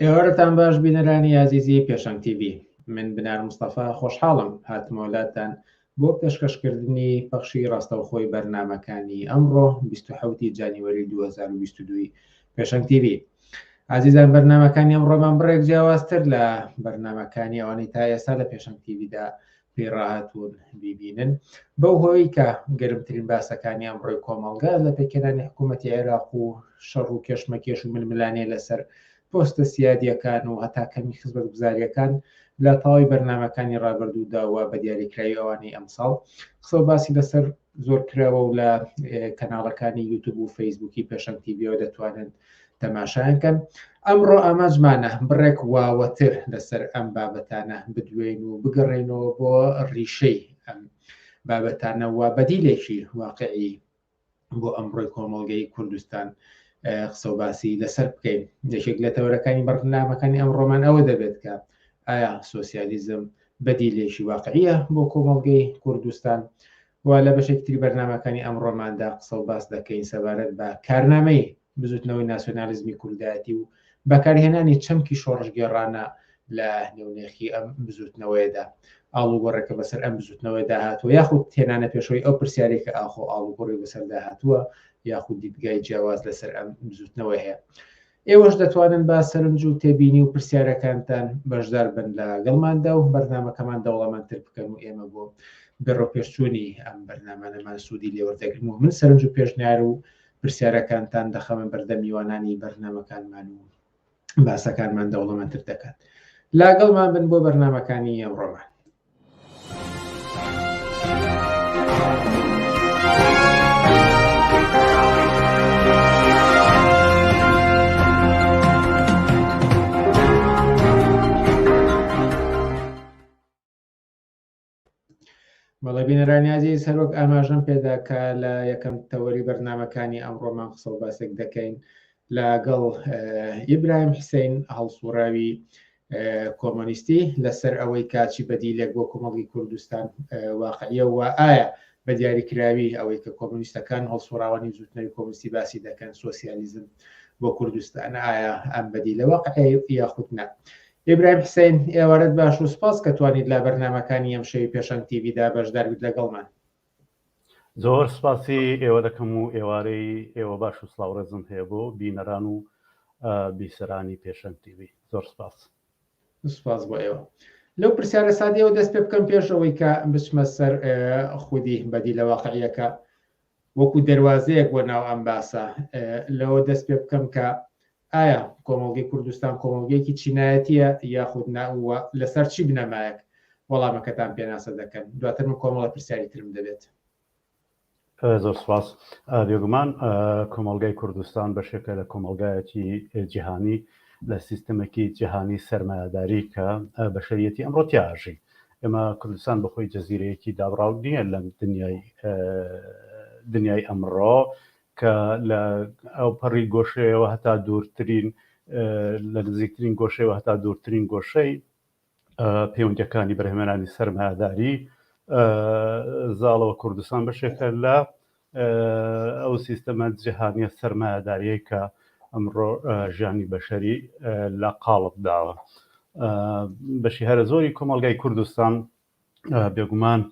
ئێوارەتان باش بینەرانی یازیزی پێشەنگ تیبی من بنار مستەفا خۆشحاڵم هاتمۆلاتان بۆ پێشکەشکردنی پەخشی ڕاستەوخۆی بەرنمەکانی ئەمڕۆ 1970 جانیوەری 2022 پێشەنگ تیبی ئازیزان بەرنمەکانی ئەم ڕۆمان بڕێک جیاوازتر لە بەرنمەکانی ئەوانی تا ئێستا لە پێشەنگ تیبیدا پێی ڕاهاتوون بیبینن بەو هۆی کە گەرمترین باسەکانی ئەمڕۆی کۆمەڵگا لە پێکێنانی حکوومەتی عێراق و شەڕ و کێشمەکێش و ململانێ لەسەر پۆستە سیادیەکان و هەتا کەمی خزمەت گوزاریەکان لە تەواوی بەرنمەکانی ڕابردوودا و بە دیاریکراوی ئەوانی ئەمساڵ قسە باسی لەسەر زۆر کراوە و لە کەناڵەکانی یوتوب و فەیسبووکی پێشەم تیبیەوە دەتوانن تەماشایانکەن ئەمڕۆ ئاماژمانە بڕێک واوەتر لەسەر ئەم بابەتانە بدوێن و بگەڕێنەوە بۆ ڕیشەی ئەم بابەتانە و بەدیلێکی واقعی بۆ ئەمڕۆی کۆمەڵگەی کوردستان قسە و باسی لەسەر بکەین یەکێک لە تەورەکانی بەرنامەکانی ئەم ڕۆمان ئەوە دەبێت کە ئایا سوسیالیزم بەدیلێکی واقعیە بۆ کۆمەڵگەی کوردستان و لە بەشێکی تری بەرنامەکانی ئەمڕۆماندا قسە و باس دەکەین سەبارەت بە کارنامەی بزوتنەوەی ناسیۆنالیزمی کوردایەتی و بەکارهێنانی چەمکی شۆڕشگێڕانە لە نێونێخی ئەم بزوتنەوەیەدا ئاڵوگۆڕێکە بەسەر ئەم بزوتنەوەیدا هاتووە یاخود تێنانە پێشەوەی ئەو پرسیارێکە ئاخۆ ئاڵوگۆڕی بەسەردا هاتووە یاخود دیدگای جیاواز لەسەر ئەم بزوتنەوە هەیە ئێوەش دەتوانن با سەرنج و تێبینی و پرسیارەکانتان بەشدار بن لە گەڵماندا و بەرنامەکەمان دەوڵەمەندتر بکەن و ئێمە بۆ بەڕۆپێشچوونی ئەم بەرنامانەمان سوودی لێوەردەگرن و من سەرنج و پێشنیار و پرسیارەکانتان دەخەمە بەردە میوانانی بەرنمەکانمان و باسەکانمان دەوڵەمەندتر دەکات لاگەڵمان بن بۆ بەرنمەکانی ئەمڕۆمان بەڵێبینەرانیازی سەرۆک ئاماژەم پێدا کە لە یەکەم تەوەری بەرنمەکانی ئەمڕۆمان قسە باسێک دەکەین لەگەڵ ئیبراهیم حسین هەڵسوڕاوی کۆمۆنیستی لەسەر ئەوەی کاچی بەدیلێک بۆ کۆمەڵی کوردستان واقعە و ئایا بە دیاریکراوی ئەوەی کە کۆمونیستەکان هەڵسوڕاوانی زوتنەوەی کۆمستی باسی دەکەن سوسیالیزم بۆ کوردستان ئایا ئەم بەدی لە واقعی یاخود نە ئبراهیم حسین ئێوارەت باش و سپاس کە توانیت لا بەرنمەکانی ئەم شەوی پێشەنگ تیویدا بەشداربیت لەگەڵمان زۆر سپاسی ئێوە دەکەم و ئێوارەی ئێوە باش و سڵاو ڕێزم هەیە بۆ بینەران و بیسەرانی پێشەنگ تی ڤی زۆر سپاس. سپاس بۆ ئێوە. لەو پرسیارە سادەیەوە دەست پێ بکەم پێش ئەوەی کە بچمە سەر خودی بەدیلە واقعیەکە وەکو دەروازەیەک بۆ ناو ئەم باسە لەوە دەست پێ بکەم کە ئایا کۆمەڵگەی کوردستان کۆمەڵگەیەکی چینایەتییە یاخود نا و لەسەر چی بنەمایەک وەڵامەکەتان پێناسە دەکەن؟ دواتر من کۆمەڵە پرسیاری ترم دەبێت. زۆر سپاس. بێگومان کۆمەڵگەی کوردستان بەشێکە لە کۆمەڵگایەکی جیهانی لە سیستمێکی جیهانی سەرمایەداری کە بەشەریەتی ئەمڕۆ تیاژی ئێمە کوردستان بەخۆی جەزیرەیەکی دابڕاو نییە لەم دنیای دنیای ئەمڕۆ کە لە ئەوپەڕی گۆشەیەوە هەتا دوورترین لە نزیکترین گۆشەیەوە هەتا دوورترین گۆشەی پەیوەندیەکانی بەرهەمێنانی سەرمایەداری زاڵەوە کوردستان بەشێکە لە ئەو سیستەمە جیهانیە سەرمایەداریەی کە ئەمڕۆ ژیانی بەشەری لە قاڵب داوە بەشی هەرە زۆری کۆمەلگای کوردستان بێگومان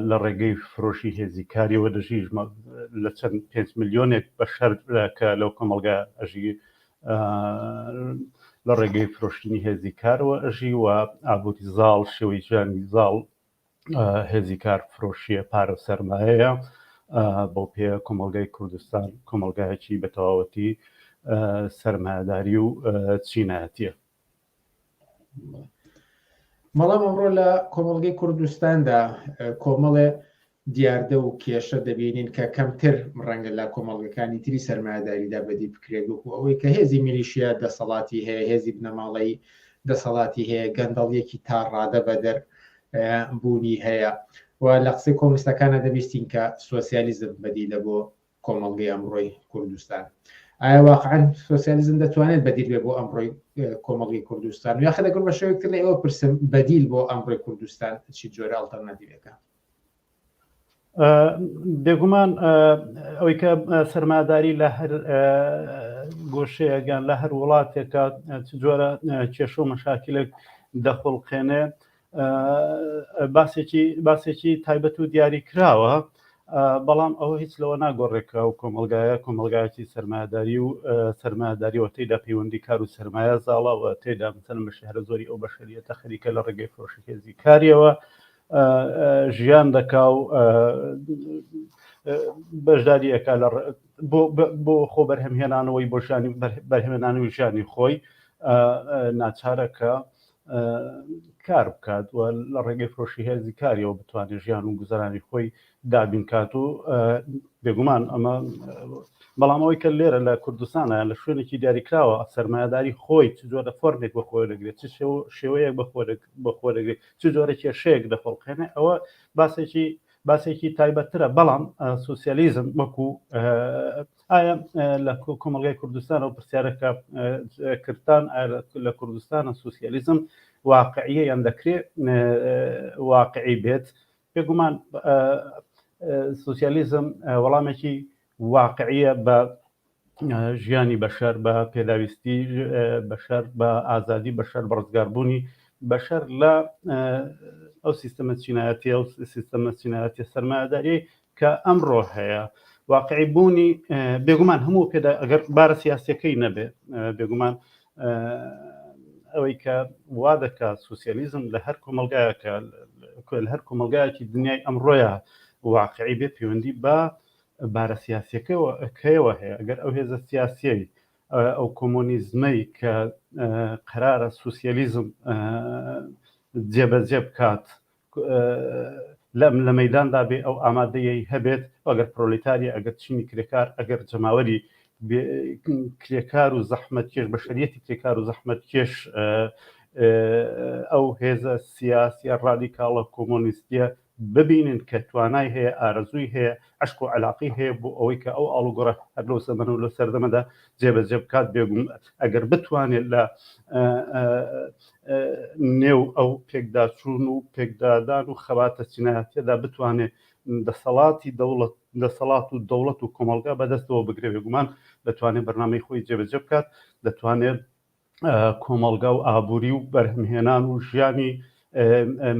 لە ڕێگەی فرۆشی هێزی کاریەوە دەژی لە چەند پێنج ملیۆنێک بەشەر کە لەو کۆمەلگا ئەژی لە ڕێگەی فرۆشتنی هێزی کارەوە ئەژی و ئابووری زاڵ شێوەی ژیانی زاڵ هێزی کار فرۆشیە پارە سەرمایەیە بەو پێ کۆمەلگای کوردستان کۆمەلگایەکی بە تەواوەتی سەرمایهداری و چینایەتە بەڵام ئەمڕۆ لە کۆمەڵگەی کوردستاندا کۆمەڵێ دیاردە و کێشە دەبینین کە کەمتر ڕەنگە لە کۆمەڵگەکانی تری سەرمایهداریدا بەدی بکرێت وەکو ئەوەی کە هێزی میلیشیا دەسەڵاتی هەیە هێزی بنەماڵەی دەسەڵاتی هەیە گەندەڵیەکی تا ڕادە بەدەر بوونی هەیە و لە قسەی کۆمستەکانە دەبیستین کە سوسیالیزم بەدیلە بۆ کۆمەڵگەی ئەمڕۆی کوردستان ئایا واقعەن سۆسیالیزم دەتوانێت بەدیل بێ بۆ ئەمڕۆی کۆمەڵی کوردستان یا خەدەگر بە شێوەکتر لە ئێوە پرسم بەدیل بۆ ئەمڕۆی کوردستان چی جۆرە ئەڵتەرناتیوەکە بێگومان ئەوەی کە سەرماداری لە هەر گۆشەیەگەن لە هەر وڵاتێکە جۆرە کێشە و مەشاکلێک دەخڵقێنێ باسێکی باسێکی تایبەت و دیاری کراوە بەڵام ئەوە هیچ لەوە ناگۆڕێک کە و کۆمەلگایە کۆمەلگایەکی سەرمایداری و سەرمایداریەوە تێدا پەیوەندی کار و سەرمایە زاڵەوە تێدا مثلەن بە شهرە زۆری ئەو بەشریەتە خەریکە لە ڕێگەی فرۆشی هێزی کاریەوە ژیان دەکا و بەشداریەکە لە بۆ خۆ بەرهەمهێنانەوەی بۆشانی بەرهێنانەوەی ژیانی خۆی ناچارەکە کار بکات و لە ڕێگەی فرۆشی هێزی کاریەوە بتوانێت ژیان و گوزەرانی خۆی دابین کات و بێگومان ئەمە بەڵام ئەوەی کە لێرە لە کوردستانە لە شوێنێکی دیاریکراوە سەرمایهداری خۆی چ جۆرە فۆرمێک بە خۆی دەگرێت چ شێوەیەک بە بە خۆ دەگرێت چ جۆرە کێشەیەک دەخۆڵقێنێ ئەوە باسێکی باسێکی تایبەتترە بەڵام سوسیالیزم وەکو ئایا لە کۆمەلگای کوردستان و پرسیارەکە کردتان لە کوردستانە سوسیالیزم واقعیە یان دەکرێ واقعی بێت بێگومان سوسیالیزم وەڵامێکی واقعیە بە ژیانی بەشەر بە پێداویستی بەشەر بە ئازادی بەشەر بە ڕزگاربوونی بەشەر لە ئەو سیستەمە چینایەتی ئەو سیستەمە چینایەتی سەرمایهداری کە ئەمڕۆ هەیە واقعی بوونی بێگومان هەموو پێدا ئەگەر بارە سیاسەکەی نەبێ بێگومان ئەوەی کە وا دەکات سوسیالیزم لە هەر کۆمەلگایەکە لە هەر کۆمەلگایەکی دنیای ئەمڕۆیە واقعی بێ پەیوەندی بە بارە سیاسەکەەوە ئەکەیەوە هەیە ئەگەر ئەو هێزە سیاسیەی ئەو کۆمۆنیزمەی کە قرارە سوسیالیزم جێبەجێ بکات لەم لە مەیداندا بێ ئەو ئامادەیەی هەبێت ئەگەر پرۆلیتاریە ئەگەر چینی کرێکار ئەگەر جەماوەری کرێکار و زەحمەت کێش بەشریەتی کرێکار و زەحمەت کێش ئەو هێزە سیاسیە ڕادیکاڵە کۆمۆنیستیە ببینن کە توانای هەیە ئارەزووی هەیە عشق و علاقی هەیە بۆ ئەوەی کە ئەو ئاڵوگۆڕە هەر لەو سەمەن و لە سەردەمەدا جێبەجێ بکات بێگوم ئەگەر بتوانێت لە نێو ئەو پێکداچوون و پێکدادان و خەباتە چینایەتیەدا بتوانێت دەسەڵاتی دەوڵەت دەسەڵات و دەوڵەت و کۆمەلگا بەدەستەوە بگرێ بێگومان دەتوانێت بەرنامەی خۆی جێبەجێ بکات دەتوانێت کۆمەلگا و ئابووری و بەرهەمهێنان و ژیانی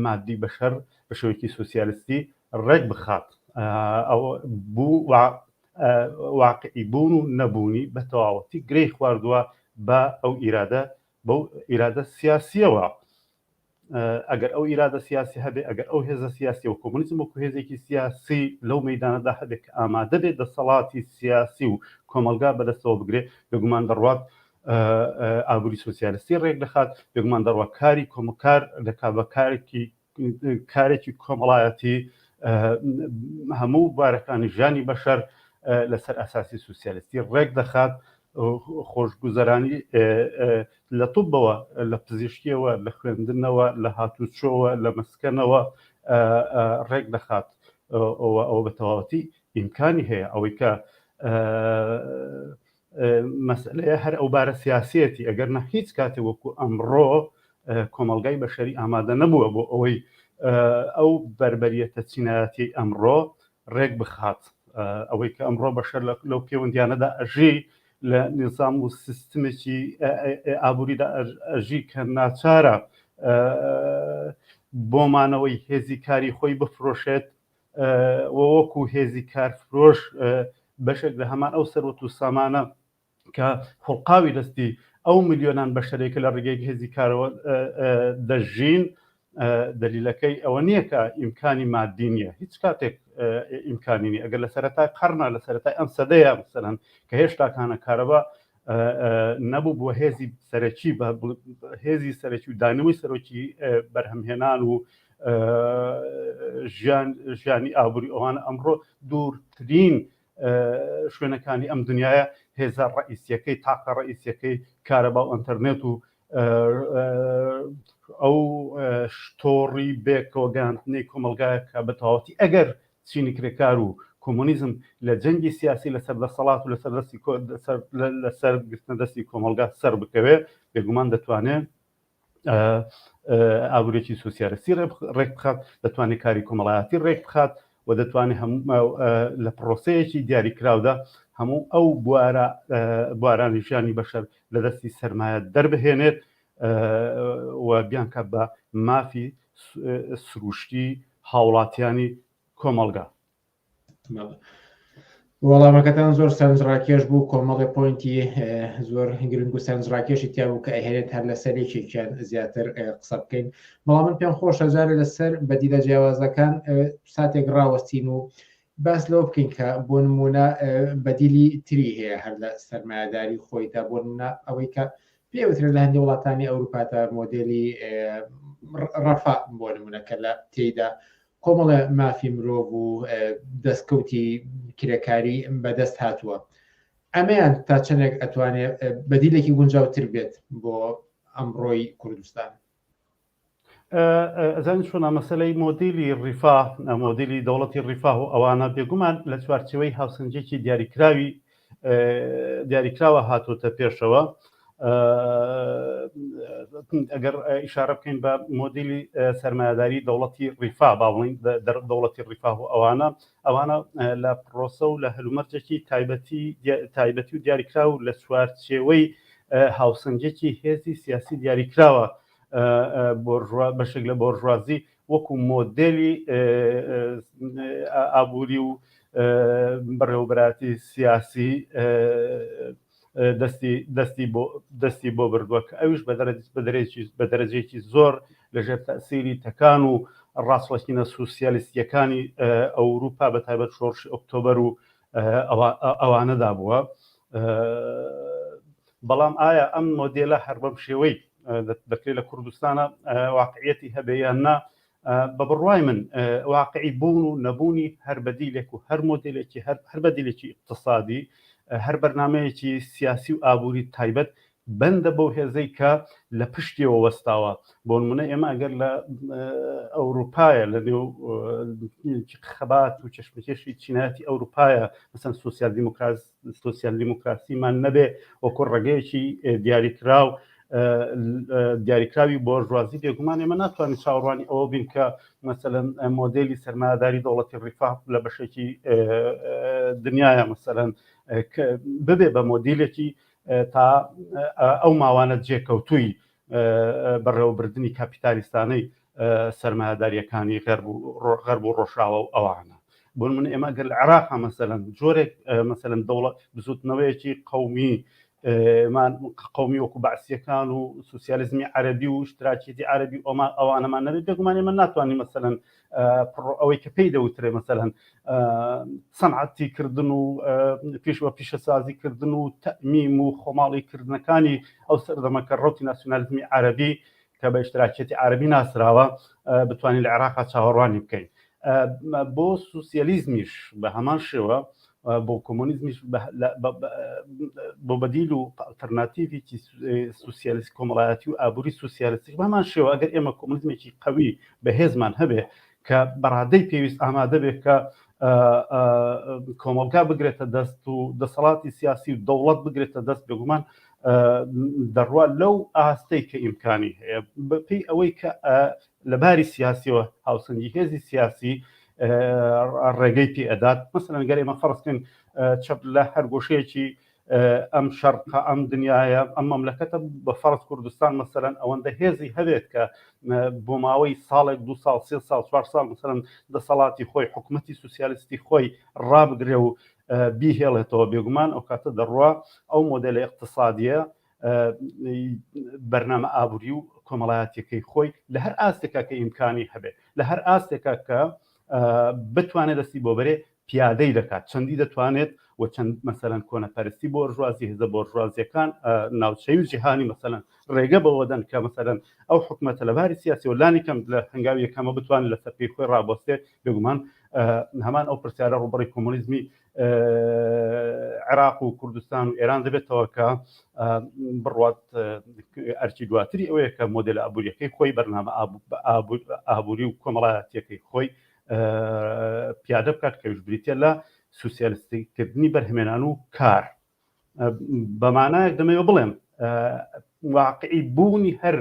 مادی بەشەر بە شێوەیەکی سوسیالستی ڕێک بخات ئەوە بوو واقعی بوون و نەبوونی بە تەواوەتی گرەی خواردووە بە ئەو ئیرادە بەو ئیرادە سیاسیەوە ئەگەر ئەو ئیرادە سیاسی هەبێ ئەگەر ئەو هێزە سیاسی و کۆمونیزم وەکو هێزێکی سیاسی لەو مەدانەدا هەبێت کە ئامادە بێت دەسەڵاتی سیاسی و کۆمەلگا بەدەستەوە بگرێ بگومان دەڕوات ئابووری سوسیالستی ڕێک دەخات بگومان دەڕوە کاری کۆمکار دەکا بە کارێکی کارێکی کۆمەڵایەتی هەموو بارەکانی ژانی بەشەر لەسەر ئەساسی سوسیالستی ڕێک دەخات خۆشگوزەرانی لە توبەوە لە پزیشکیەوە لە خوێندنەوە لە هاتوچۆوە لە مەسکەنەوە ڕێک دەخات ئەوە بە تەواوەتی ئیمکانی هەیە ئەوەی کە مەسەلەیە هەر ئەو بارە سیاسیەتی ئەگەر نە هیچ کاتێ وەکو ئەمڕۆ کۆمەلگای بەشەری ئامادە نەبووە بۆ ئەوەی ئەو بەربەریەتە چینایەتی ئەمڕۆ ڕێک بخات ئەوەی کە ئەمڕۆ بەشەر لەو پێوەندیانەدا ئەژی لە نظام و سیستمێکی ئابووریدا ئەژی کە ناچارە بۆمانەوەی هێزی کاری خۆی بفرۆشێت و وەکو هێزی کارفرۆش بەشێک لە هەمان ئەو سەروەت و سامانە کە خوڵقاوی دەستی ئەو ملیۆنان بەشەرێکە لە ڕێگەی هێزی کارەوە دەژین دەلیلەکەی ئەوە نییە کە ئیمکانی مادی نییە هیچ کاتێک ئیمکانینی ئەگەر لە سەرەتای قەرنا لە سەرەتای ئەم سەدەیە بسەرن کە هێشتاکانە کارەبا نەبوو بۆ هێزی سەرەکی بە هێزی سەرەکی و دانەوەی سەرۆکی بەرهەمهێنان و ژیان ژیانی ئابووری ئەوان ئەمڕۆ دوورترین شوێنەکانی ئەم دنیاە هێزە ڕئیسیەکەی تاقە ڕئیسیەکەی کارەبا و ئەتەرنێت و ئەو تۆڕی بێکەوەگەاندنەی کۆمەلگایە کە بەتەواتی ئەگەر چینی کرێکار و کۆمۆنیزم لە جەنگی سیاسی لەسەر دەسەڵات و لەسەر دەستی کۆ لەسەر لەسەر گرتنە دەستی کۆمەڵگا سەر بکەوێ بێگومان دەتوانێ ئابورێکی سوسیالستی ڕێک بخات دەتوانێت کاری کۆمەڵایەتی ڕێک بخات و دەتوانێت لە پرۆسەیەکی دیاریکراودا هەموو ئەو بوارە بوارانی ژیانی بەشەر لە دەستی سرمایە دەربهێنێت و بیانکات بە مافی سروشتی هاوڵاتیانی کۆمەڵگا. وەڵامەکەتان زۆر سەرنجڕاکێش بوو کۆمەڵێ پۆینتی زۆر گرنگ و سەرنجڕاکێشی تیا بوو کە ئەهێنێت هەر لەسەر یەکێکیان زیاتر قسە بکەین بەڵام من پێم خۆش هەزارە لەسەر بەدیلە جیاوازەکان ساتێک ڕاوەستین و باس لەوە بکەین کە بۆ نمونە بەدیلی تری هەیە هەر لە سەرمایهداری خۆیدا بۆ نمونە ئەوەی کە پێ وترێت لە هەندێ وڵاتانی ئەوروپا تا مۆدێلی ڕەفا بۆ نمونە کە لە تێیدا کۆمەڵە مافی مرۆڤ و دەستکەوتی کرێکاری بەدەست هاتووە ئەمەیان تا چەندێک ئەتوانێت بەدیلێکی گونجاوتر بێت بۆ ئەمڕۆی کوردستان ئەزانی چۆنا مەسلەی مۆدیلی ڕیفا مۆدیلی دەوڵەتی ڕیفا و ئەوانە بێگومان لە چوارچەوەی هاوسنجێکی دیاریکراوی دیاریکراوە هاتۆتە پێشەوە ئەگەر ئیشارە بکەین بە مۆدیلی سەرمایداری دەوڵەتی ڕیفا باڵین دەوڵەتی ڕیفا و ئەوانە ئەوانە لە پرۆسە و لە هەلومەرجێکی تایبەتی تایبەتی و دیاریکرا و لە چوارچێوەی هاوسنجێکی هێزی سیاسی دیاریکراوە بەشێک لە بۆرژوازی وەکو مۆدێلی ئابووری و بەڕێوەبەراتی سیاسی دەستی بۆ بردووە کە ئەویش بە دەرەجێکی زۆر لەژێر تەسیری تەکان و ڕاستڕەخینە سوسیالیستیەکانی ئەوروپا بە تایبەت شۆڕشی ئۆکتۆبەر و ئەوانەدا بووە بەڵام ئایا ئەم مۆدێلە هەر بەم شێوەی دەکرێت لە کوردستانە واقعەتی هەبێ یان نا بە بڕوای من واقعی بوون و نەبوونی هەر بەدیلێک و هەر مۆدلێکی هەر بەدیلێکی اقتصادی هەر بەرنمەیەکی سیاسی و ئابووری تایبەت بەندە بەو هێزەی کە لە پشتیەوە وەستاوە بۆنمونە ئێمە ئەگەر لە ئەوروپایە لە نێو خەبات و چشمکێشی چینایەتی ئەوروپایە مەسەن سوسیال دیموکراس سوسیال دیموکراسیمان نەبێ وەکو ڕگەیەکی دیاریکراو دیاریکراوی بۆرژوازی بێگومان ئێمە ناتوانین چاوەڕوانی ئەوە بین کە مەسەن مۆدلی سەرماداری دەوڵەتی ڕیفا لە بەشێکی دنیاە مەسەن ببێ بە مۆدیلێکی تا ئەو ماوانە جێکەوتووی بەڕێوەبردنی کاپیتالیستانەی سەرمایەداریەکانی غەرب و ڕۆژاوە و ئەوانە بۆن من ئێمە گەل عراق مەسەن جۆرێک مەسەن دەوڵەت بزوتنەوەیەکی قومی من قومی وەکو بەعسیەکان و سوسیالیزمی عەربی و شتراکیدی عەربی ئۆما ئەوانەمان نەبێت بێگومانی من ناتوانانی مەسەن ئەوەی کە پێی دەوترێ مەسەلەن سەنعەتی کردن و پیش وە پیشەسازی کردن و تەمیم و خۆماڵی کردنەکانی ئەو سەردەمەکە ڕوتی ناسیۆنالیزمی عربی کە بە اشتراکیەتی عربی ناسراوە بتوانین لە عێراقا چاوەڕوانی بکەین بۆ سوسیالیزمیش بە هەمان شێوە بۆ کۆمۆنیزمیش بۆ بەدیل و ئەلتەرناتیڤێکی سوسیالیست کۆمەڵایەتی و ئابووری سوسیالیستیش بەمان شێوە ئەگەر ئێمە کۆمۆنیزمێکی قوی بەهێزمان هەبێ کە بەڕادەی پێویست ئامادە بێت کە کۆمەڵگا بگرێتە دەست و دەسەڵاتی سیاسی و دەوڵەت بگرێتە دەست بێگومان دەڕوا لەو ئاستەی کە ئیمکانی هەیە بەپی ئەوەی کە لە باری سیاسیەوە هاوسەنگی هێزی سیاسی ڕێگەی پێ ئەدات مەسەن گەر ئێمە فەرستکەین چەپ لە هەر گۆشەیەکی ئەم شەرقا ئەم دنیاە ئەم مەملەکەتە بە فەرز کوردستان مەسەرەن ئەوەندە هێزی هەوێت کە بۆ ماوەی ساڵێک دو ساڵ سێ ساڵ چوار ساڵ مەسەرم دەسەڵاتی خۆی حکوومەتتی سوسیالستی خۆی ڕابگرێ و بیهێڵێتەوە بێگومان ئەو کاتە دەڕوا ئەو مۆدلی اقتصادیە بەرنامە ئابووری و کۆمەڵایەتەکەی خۆی لە هەر ئاستێکا کە ئیمکانی هەبێت لە هەر ئاستێکا کە بتوانێت دەستی بۆ بەرێ پیادەی دەکات چەندی دەتوانێت و چەند مەسەرەن کۆنەپەرستی بۆ ژوازی هزە بۆ ژوازیەکان ناوچەی و جیهانی مەسەەن ڕێگە بەوە دەن کە مەسەرەن ئەو حکوومەتە لە باری سیاسی و لانی کەم لە هەنگاوی یەکەمە بتوان لە سەرپی خۆی ڕابۆستێ بێگومان هەمان ئەو پرسیارە ڕوبڕی کۆمۆنیزمی عێراق و کوردستان و ئێران دەبێتەوە کە بڕوات ئەرچی دواتری ئەوەیە کە مۆدل ئابوووریەکەی خۆی بەرنامە ئابووری و کۆمەڵایەتەکەی خۆی پیادە بکات کەویش بریتە لە سوسیالستیکردنی بەرهمێنان و کار بەمانایەک دەمەوێ بڵێم واقعی بوونی هەر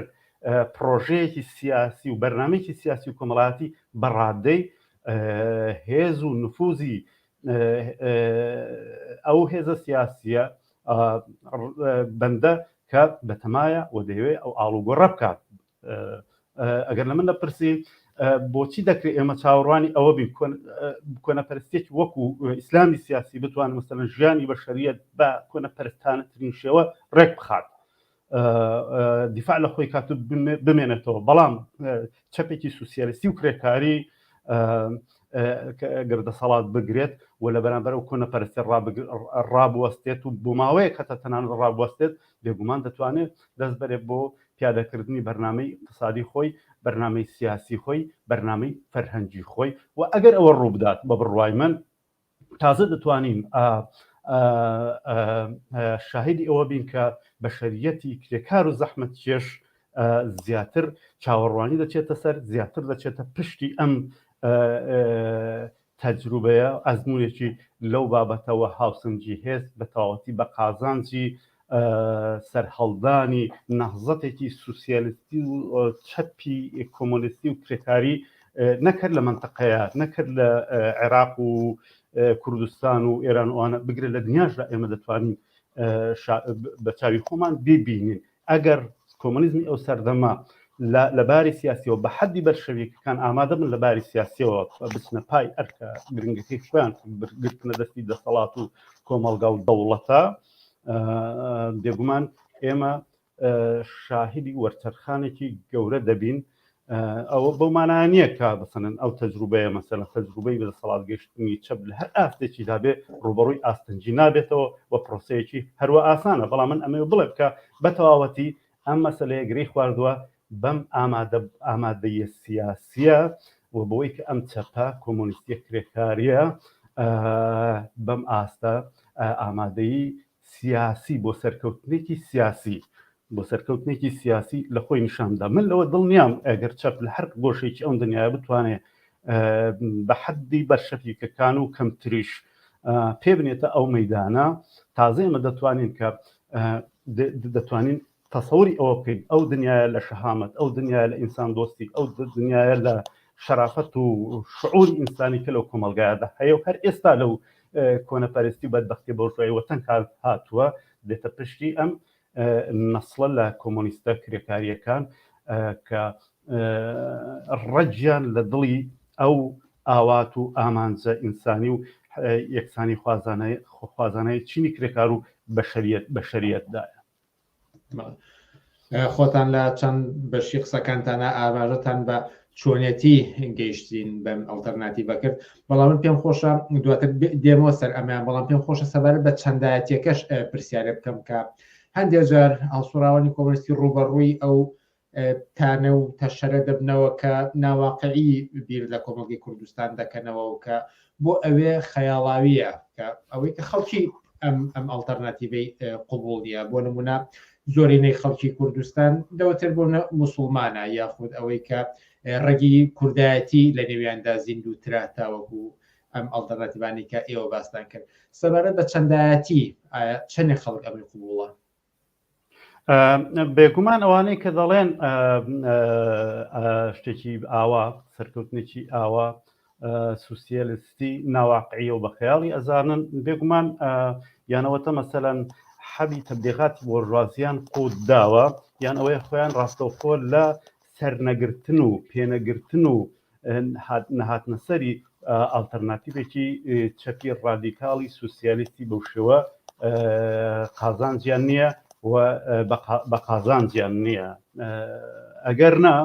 پرۆژەیەکی سیاسی و بەرنمێکی سیاسی و کۆمەڵاتی بەڕادەی هێز و نفوزی ئەو هێزە سیاسیە بەندە کە بەتەمایە و دەیەوێت ئەو ئاڵوگۆڕە بکات ئەگەر لە من دەپرسی بۆچی دەکرێت ئێمە چاوەڕوانی ئەوە بین کۆنەپەرستێک وەکو ئیسلامی سیاسی بتوانن مەسەن ژیانی بە شەریەت بە کۆنەپەرستانەترین شێوە ڕێک بخات دیفاع لە خۆی کات بمێنێتەوە بەڵام چەپێکی سوسیالستی و کرێکاری گەر دەسەڵات بگرێت و لە بەرامبەر و کۆنە پەرستێ ڕابوەستێت و بۆماوەیەک هەتا تەنانەت ڕابوەستێت بێگومان دەتوانێت دەست بەرێ بۆ پیادەکردنی بەرنمەی اقتصادی خۆی بەرنمەی سیاسی خۆی بەرنمەی فەرهەنگی خۆی و ئەگەر ئەوە ڕووبدات بە بڕوای من تازە دەتوانین شاهدی ئەوە بین کە بەشریەتی کرێکار و زەحمت کێش زیاتر چاوەڕوانی دەچێتە سەر زیاتر دەچێتە پشتی ئەم تەجروبەیە ئەزمونێکی لەو بابەتەوە هاوسنجی هێز بە تەواوەتی بە قازانجی سەرهەڵدانی نەهزەتێکی سوسیالستی و چەپی کۆمۆنستی و کرێکاری نەکرد لە منتەقەیە نەکرد لە عێراق و کوردستان و ئێران وانە بگرە لە دنیاشدا ئێمە دەتوانین بە چاوی خۆمان ببینین ئەگەر کۆمۆنیزمی ئەو سەردەمە لە باری سیاسیەوە بە حەدی بەرشەویکەکان ئامادە بن لە باری سیاسیەوە بچنە پای ئەرکە گرنگەکەی خۆیان گرتنە دەستی دەسەڵات و کۆمەڵگا و دەوڵەتە بێگومان ئێمە شاهدی وەرچەرخانێکی گەورە دەبین ئەوە بەو مانایە نییە کە بسەن ئەو تەجروبەیە مەسەلە تەجروبەی بەدەسەڵات گەشتنی چەپ لە هەر ئاستێکی دابێ ڕوبەڕووی ئاستنجی نابێتەوە و پرۆسەیەکی هەروە ئاسانە بەڵام من ئەمێ بڵێ بکە بە تەواوەتی ئەم مەسلەیە گری خواردووە بەم ئامادە ئامادەیە سیاسیە و بۆی کە ئەم چەپە کۆمۆنیستی کرێکاریە بەم ئاستە ئامادەی سیاسی بۆ سەرکەوتنێکی سیاسی بۆ سەرکەوتنێکی سیاسی لە خۆی نیشاندا من لەوە دڵنیام ئەگەر چەپ لە هەر گۆشێکی ئەم دنیاە بتوانێت بە حەدی بەرشەفیکەکان و کەمتریش پێ بنێتە ئەو مەدانە تازە ئمە دەتوانین کە دەتوانین تەسەوری ئەوە بکەین ئەو دنیایە لە شەهامەت ئەو دنیایە لە ئینسان دۆستی ئەو دنیایە لە شەرافەت و شعوری ئینسانی کە لەو کۆمەلگایەدا هەیە و هەر ئێستا لەو کۆنەپەرستی و بەدبختی بۆرژوای وەتەن کار هاتووە دێتە پشتی ئەم نەسڵە لە کۆمۆنیستە کرێکاریەکان کە ڕەجیان لە دڵی ئەو ئاوات و ئامانجە ئینسانی و یەکسانی خوازانەی خوازانەی چینی کرێکار و بەشریت بەشریتدایە خۆتان لە چەند بەشی قسەکانتانە ئاماژەتان بە چۆنێتی گەیشتین بەم ئەڵتەرناتیڤە کرد بەڵام من پێم خۆشە دواتر دێمەوە سەر ئەمیان بەڵام پێم خۆشە سەبارە بە چەندایەتەکەش پرسیارە بکەم کە هەندێک جار هەڵسوڕاوانی کۆمەستی ڕوبەڕووی ئەو تانە و تەشەرە دەبنەوە کە ناواقعی بیر لە کۆمەڵگەی کوردستان دەکەنەوە و کە بۆ ئەوێ خەیاڵاویە کە ئەوەی کە خەڵکی ئەم ئەم ئەلتەرناتیڤەی قوبول نیە بۆ نمونە زۆرینەی خەڵکی کوردستان دەوتر بۆ مسلمانە یاخود ئەوەی کە ڕگی کوردایەتی لە نێویاندا زیندوو تراتاوەکو ئەم ئەلتەرناتیبانی کە ئێوە باستان کرد سەبارەت بە چەندایەتی چەندێک خەڵک ئەمری قوبوڵە بێگومان ئەوانەی کە دەڵێن شتێکی ئاوا سەرکەوتنێکی ئاوا سوسیالستی ناواقعیە و بە خەیاڵی ئەزانن بێگومان یانەوەتە مەسەەن حەبی تەبلیغاتی بۆرژوازیان قوت داوە یان ئەوەیە خۆیان ڕاستەوخۆ لە سەرنەگرتن و پێنەگرتن و نەهاتنەسەری ئاڵتەرناتیڤێکی چەپی ڕادیکاڵی سوسیالیستی بەو شێوە قازانجیان نییە و بە قازانجیان نییە ئەگەر نا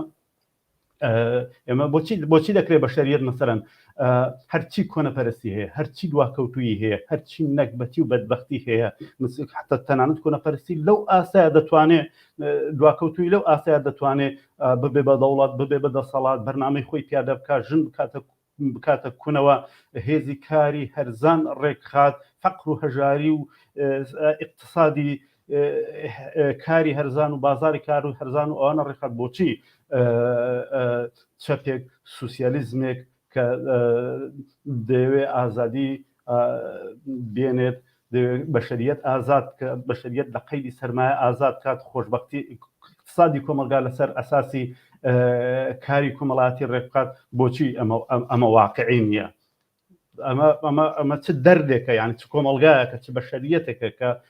ئێمە بۆچی بۆچی دەکرێت بە شەریت مەسەرەن هەرچی کۆنەپەرستی هەیە هەرچی دواکەوتوی هەیە هەرچی نەکبەتی و بەدبختی هەیە حتا تەنانەت کۆنەپەرستی لەو ئاسا دەتوانێت دواکەوتووی لەو ئاستەیە دەتوانێ ببێ بە دەوڵەت ببێ بە دەسەڵات بەرنامەی خۆی پیادە بکات ژن بکاتە بکاتە کونەوە هێزی کاری هەرزان ڕێکخات فەقر و هەژاری و اقتصادی کاری هەرزان و بازاری کار و هەرزان و ئەوانە ڕێکخات بۆچی چەپێک سوسیالیزمێک کە دەیەوێت ئازادی بێنێت بەشەریەت ئازاد کە بەشەریەت لە قەیدی سەرمایە ئازاد کات خۆشببختی اقتصادی کۆمەلگا لەسەر ئەساسی کاری کومەڵاتی ڕێککات بۆچی ئەمە واقعی نییە ئەمە ئەمە ئەمە چ دەردێکە یان چ کۆمەلگایەکە چ بەشەریەتێکە کە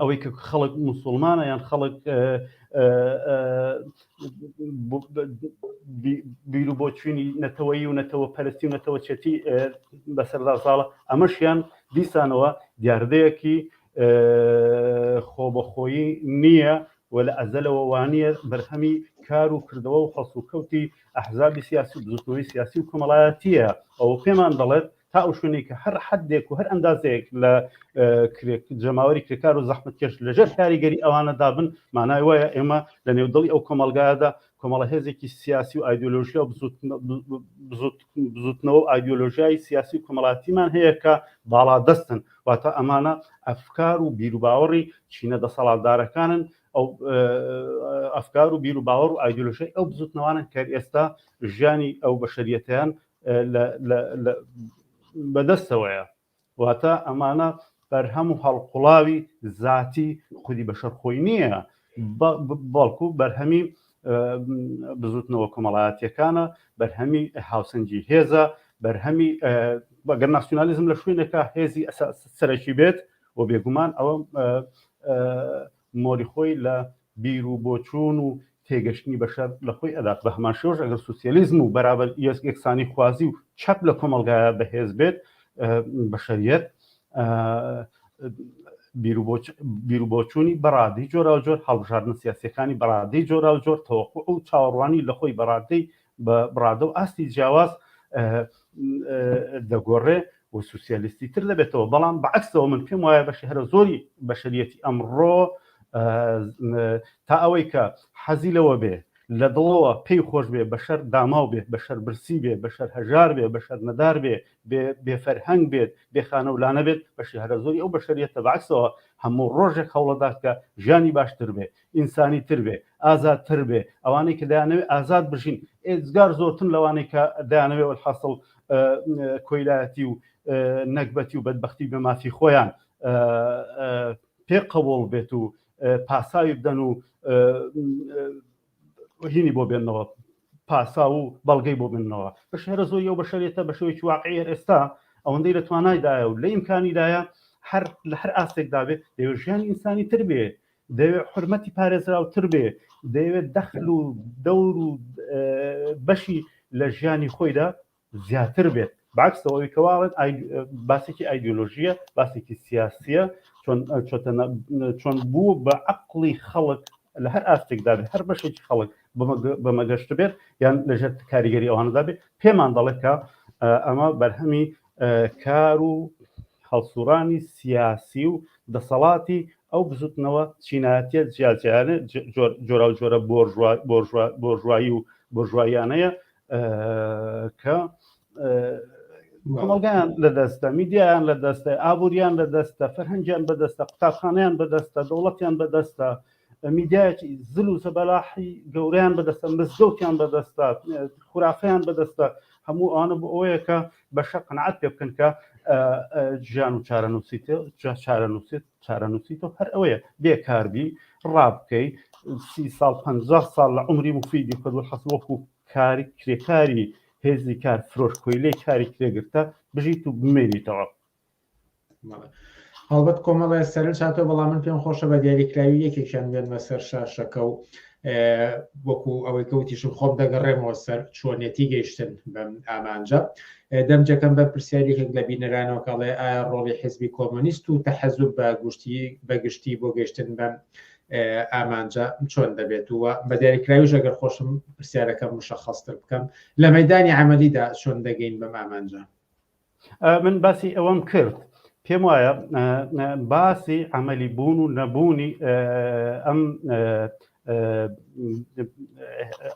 ئەوەی کە خەڵک مسلمانە یان خەڵک بیرو بۆ چوینی نەتەوەی و نەتەوە پەرستی و نەتەوە چێتی بەسەردا ساڵە ئەمەشیان دیسانەوە دیاردەیەکی خۆبەخۆیی نییە و لە ئەزەلەوە وانە بەرهەمی کار و کردەوە و خەڵسوکەوتی ئەحزابی سیاسی بزوتنەوەی سیاسی و کۆمەڵایەتیە ئەو پێمان دەڵێت تا ئەو شوێنەی کە هەر حدێک و هەر ئەندازەیەک لە جەماوەری کرێکار و زەحمت کێش لەژێر کاریگەری ئەوانە دابن مانای وایە ئێمە لە نێو دڵی ئەو کۆمەلگایدا کۆمەڵە هێزێکی سیاسی و ئایدۆلۆژیا و بزوتنەوە و ئایدۆلۆژیای سیاسی و کۆمەڵاتیمان هەیە کە باڵا دەستن واتە ئەمانە ئەفکار و بیروباوەڕی چینە دەسەڵاتدارەکانن ئەو ئەفکار و بیر و باوەڕ و ئایدۆلۆژی ئەو بزوتنەوانن کە ئێستا ژیانی ئەو بەشریەتیان بەدەستەوەیە واتە ئەمانە بەرهەم و هەڵقوڵاوی زاتی خودی بەشەر خۆی نییە بەڵکو بەرهەمی بزوتنەوە کۆمەڵایەتیەکانە بەرهەمی هاوسەنگی هێزە بەرهەمی بەگەر ناسیۆنالیزم لە شوێنێکە هێزی سەرەکی بێت و بێگومان ئەوە مۆری خۆی لە بیر و بۆچوون و تێگەشتنی بەشەر لە خۆی ئەدات، بە هەمان شێوەش ئەگەر سوسیالیزم و بەرابەر یەکسانی خوازی و چەپ لە کۆمەڵگایا بەهێز بێت بەشەریەت بیر و بۆچوونی بە ڕادەی جۆراوجۆر، هەڵبژاردنە سیاسیەکانی بە ڕادەی جۆراوجۆر، تەوەقوع و چاوەڕوانی لە خۆی بە ڕادەی بە بڕادە و ئاستی جیاواز دەگۆڕێ و سوسیالیستی تر دەبێتەوە بەڵام بەعکسەوە من پێم وایە بەشی هەرە زۆری بەشریەتی ئەمڕۆ تا ئەوەی کە حەزی لەوە بێ لە دڵەوە پێی خۆش بێ بەشەر داماو بێت بەشەر برسی بێ بەشەر هەژار بێ بەشەر نەدار بێ بێفەرهەنگ بێت بێخانە و لانە بێت بەشی هەرە زۆری ئەو بەشریەتە بەعکسەوە هەموو ڕۆژێک هەوڵەدات کە ژیانی باشتر بێ ئینسانی تر بێ ئازاد تر بێ ئەوانەی کە دەیانەوێ ئازاد بژین ئێزگار زۆرتن لەوانەی کە دەیانەوێ وەحاصل کۆیلایەتی و نەگبەتی و بەدبختی بە مافی خۆیان پێ قەوڵ بێت و پاساوی بدەن و هینی بۆ بێنەوە پاسا و بەڵگەی بۆ بنەوە بە شهرە زۆر یو بە شەرێتە بە شێوەی واقعی ئێستا ئەوەندەی لە توانایدایە و لە ئیمکانیدایە هەر لە هەر ئاستێکدا بێت لەوێ ژیانی ئینسانی تر بێ دەیەوێت حورمەتی پارێزراوتر بێ، دەیەوێت دەخل و دەور و بەشی لە ژیانی خۆیدا زیاتر بێت، بەعەکس ئەوەی کە واڵێت باسێکی ئایدیۆلۆژییە، باسێکی سیاسییە، چۆن بوو بە عەقڵی خەڵک لە هەر ئاستێکدا بێت، هەر بەشێکی خەڵک بە مەگەشت بێت یان لەژێر کاریگەری ئەوانەدا بێت، پێمان دەڵێت کە ئەمە بەرهەمی کار و هەڵسوڕانی سیاسی و دەسەڵاتی ئەو بزوتنەوە چینایەتیە جیاجیانە جۆراو جۆرە بۆرژوایی و بۆرژواییانەیە کە کۆمەڵگیان لە دەستە میدیایان لە دەستە ئابووریان لە دەستە فەرهەنگیان بەدەستە قوتابخانیان بەدەستە دەوڵەتیان بەدەستە میدیایەکی زل و زەبەلاحی گەورەیان بەدەستە مزگەوتیان بەدەستە خورافەیان بەدەستە هەموو ئەوانە بۆ ئەوەیە کە بەشە قەنعات پێ بکەن کە ژیان و چارەنووسیت چارەنووسیت چارەنووسیت و هەر ئەوەیە بێکاربی ڕابکەی سی ساڵ پ ساڵ لە عمری مفیدی خود حەس وەکو کاری کرێکاری هێزی کار فرۆش کۆیلەی کاری کرێگرتە بژیت و بمێنیتەوە هەڵبەت کۆمەڵێ سەرنج هاتەوە بەڵام من پێم خۆشە بە دیاریکراوی یەکێکیان بێنمە سەر شاشەکە و وەکو ئەوەی کەوتیشم خۆم دەگەڕێمەوە سەر چۆنێتی گەیشتن بەم ئامانجە دەمجەکەم بە پرسیارێکێک لە بینەرانەوە کاڵێ ئایا ڕۆڵی حزبی کۆمۆنیست و تەحەزوب بە گشتی بەگشتی بۆ گەشتن بەم ئامانجە چۆن دەبێت وە بە دیاریکراویش ئەگەر خۆشم پرسیارەکەم مشەخەستر بکەم لە مەدانی عملیدا چۆن دەگەین بەم ئامانجە من باسی ئەوەم کرد پێم وایە باسی ئەمەلی بوون و نەبوونی ئەم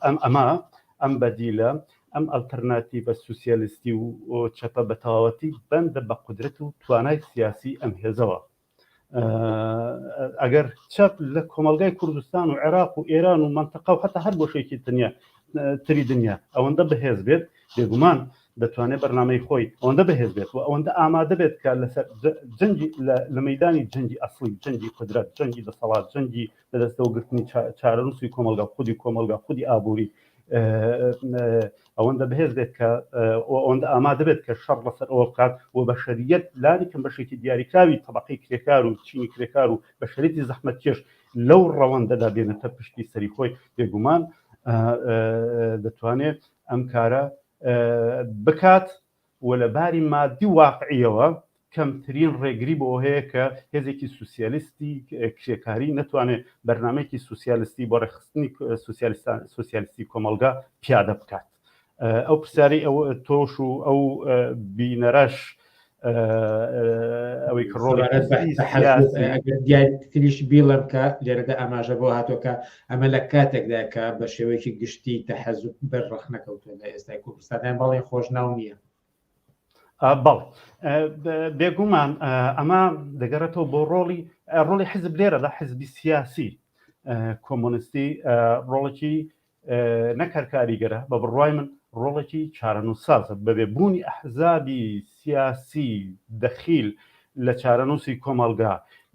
ئەم ئەمە ئەم بەدیلە ئەم ئەلتەرناتی بە سوسیالستی و چەپە بەتەواوەتی بەندە بە قدرەت و توانای سیاسی ئەم هێزەوە ئەگەر چەپ لە کۆمەلگای کوردستان و عێراق و ئێران و منتەقا و حتا هەر بۆشێکی تنیا تری دنیا ئەوەندە بەهێز بێت بێگومان دەتوانێت بەرنمەی خۆی ئەوەندە بەهێز بێت و ئەوەندە ئامادە بێت کە لەسەر جەنگی لە مەدانی جەنگی ئەسڵی جەنگی قدرەت جەنگی دەسەڵات جەنگی لەدەستەوە گرتنی چارەنووسی کۆمەلگا خودی کۆمەلگا خودی ئابووری ئەوەندە بەهێز بێت کە ئەوەندە ئامادە بێت کە شەڕ بەسەر ئەوە بکات و بەشەریەت لانیکەم بەشێکی دیاریکراوی تەبقی کرێکار و چینی کرێکار و بەشەرێتی زەحمەت کێش لەو ڕەوەندەدا بێنێتە پشتی سەری خۆی بێگومان دەتوانێت ئەم کارە بکات و لە باری ماددی و واقعییەوە کەمترین ڕێگری بۆ ئەوە هەیە کە هێزێکی سوسیالیستی کرێکاری نەتوانێ بەرنامەیەکی سوسیالیستی بۆ ڕێکخستنی سوسیالیستی کۆمەڵگا پیادە بکات. ئەو پرسیارەی ئەو تۆش و ئەو بینەرەش ئەوەی کە ڕۆڵی دیاریتریش بیڵم کە لێرەدا ئاماژە بۆ هاتۆکە ئەمە لە کاتێکدایە کە بە شێوەیەکی گشتی تەحەزوب بەر ڕەخنە کەوتووە لە ئێستای کوردستانیان بەڵێن خۆشناو نییە بەڵ بێگومان ئەمە دەگەڕێتەوە بۆ ڕۆڵی ڕۆڵی حزب لێرە لە حزبی سیاسی کۆمۆنستی ڕۆڵێکی نەکارکاریگەرە بە بڕای من ڕۆڵێکی چارەنووسازە بەبێ بوونی ئەحزابی سیاسی دەخیل لە چارەنووسی کۆمەلگا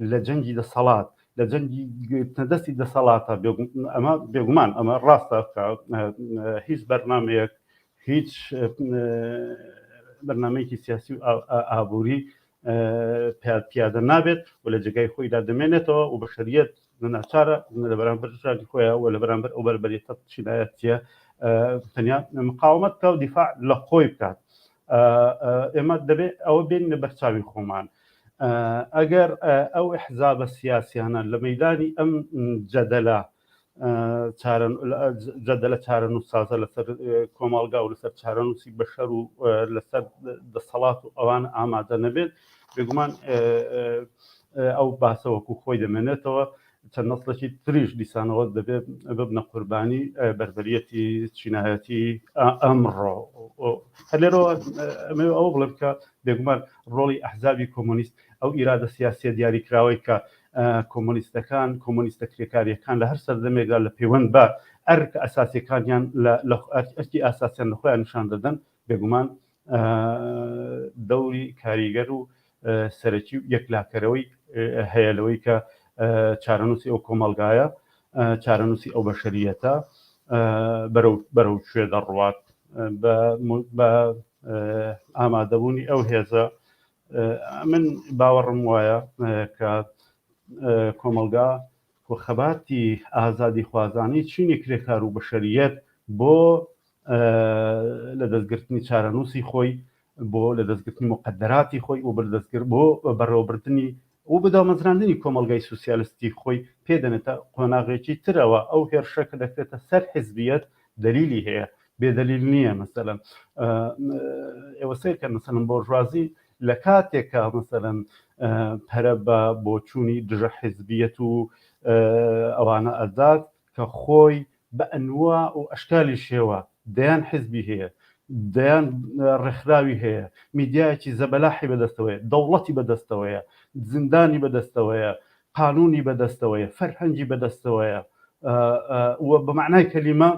لە جەنگی دەسەڵات لە جەنگی گرتنە دەستی دەسەڵاتە ئەمە بێگومان ئەمە ڕاستە هیچ بەرنمەیەک هیچ بەرنمەیەکی سیاسی و ئابووری پیادە نابێت و لە جگای خۆیدا دەمێنێتەوە و بە شەریەت ناچارە لە بەرامبەر ژانی خۆیان و لە بەرامبەر ئەو بەربەرێتە چینایەتە تەنیا مقاومەت کا و دیفاع لە خۆی بکات ئێمە دەبێت ئەوە بێنە بەرچاوی خۆمان ئەگەر ئەو حزابە سیاسیانە لە مەدانی ئەم جەدەلە جەدەلە چارن و سازە لەسەر کۆمەڵگا و لەسەر چارەنووسی بەشەر و لەسەر دەسەڵات و ئەوان ئامادە نەبێت بێگومان ئەو باسەوەکو خۆی دەمێنێتەوە چەند نەسڵێکی تریش دیسانەوە دەبێ ببنە قوربانی بەربەریەتی چینایەتی ئەمڕۆ هەلێرەوە ئەو بڵێ بکە بێگومان ڕۆڵی ئەحزابی کۆمۆنیست ئەو ئیرادە سیاسیە دیاریکراوەی کە کۆمۆنیستەکان کۆمۆنیستە کرێکاریەکان لە هەر سەردەمێکدا لە پەیوەند بە ئەرک ئەساسەکانیان لە ئەرکی ئاساسیان لە خۆیان نیشان دەدەن بێگومان دەوری کاریگەر و سەرەکی و یەکلاکەرەوەی هەیە لەوەی کە چارەنووسی ئەو کۆمەڵگایە، چارەنووسی ئەو بەشەرییەتە بەرەو بەرەو کوێ دەڕوات بە ئامادەبوونی ئەو هێزە من باوەڕم وایە کە کۆمەڵگا و خەباتی ئازادیخوازانەی چینی کرێکارو بەشەریەت بۆ لە دەستگرتنی چارەنووسی خۆی، بۆ لە دەستگرتنی موقەدەراتی خۆی و بۆ بەڕێوەبردنی و بۆ دامەزراندنی کۆمەڵگای سوسیالستی خۆی پێ دەنێتە قۆناغێکی ترەوە، ئەو هێرشە کە دەکرێتە سەر حزبیەت دەلیلی هەیە بێ دەلیل نیە، مەسەلەن ئێوە سەیرکەن مەسەلەن بۆرژوازی لەکاتێک کە مەسەلەن پەرە بە بۆچوونی دژە حیزبیەت و ئەوانە ئەدات کە خۆی بە ئەنوا و ئەشکالی شێوە دەیان حیزبی هەیە دەیان ڕێکخراوی هەیە میدیایەکی زەبەلاحی بەدەستەوەیە دەوڵەتی بەدەستەوەیە زیندانی بەدەستەوەیە قانونی بەدەستەوەیە فەرهەنگی بەدەستەوەیە و بە معنای کەلیمە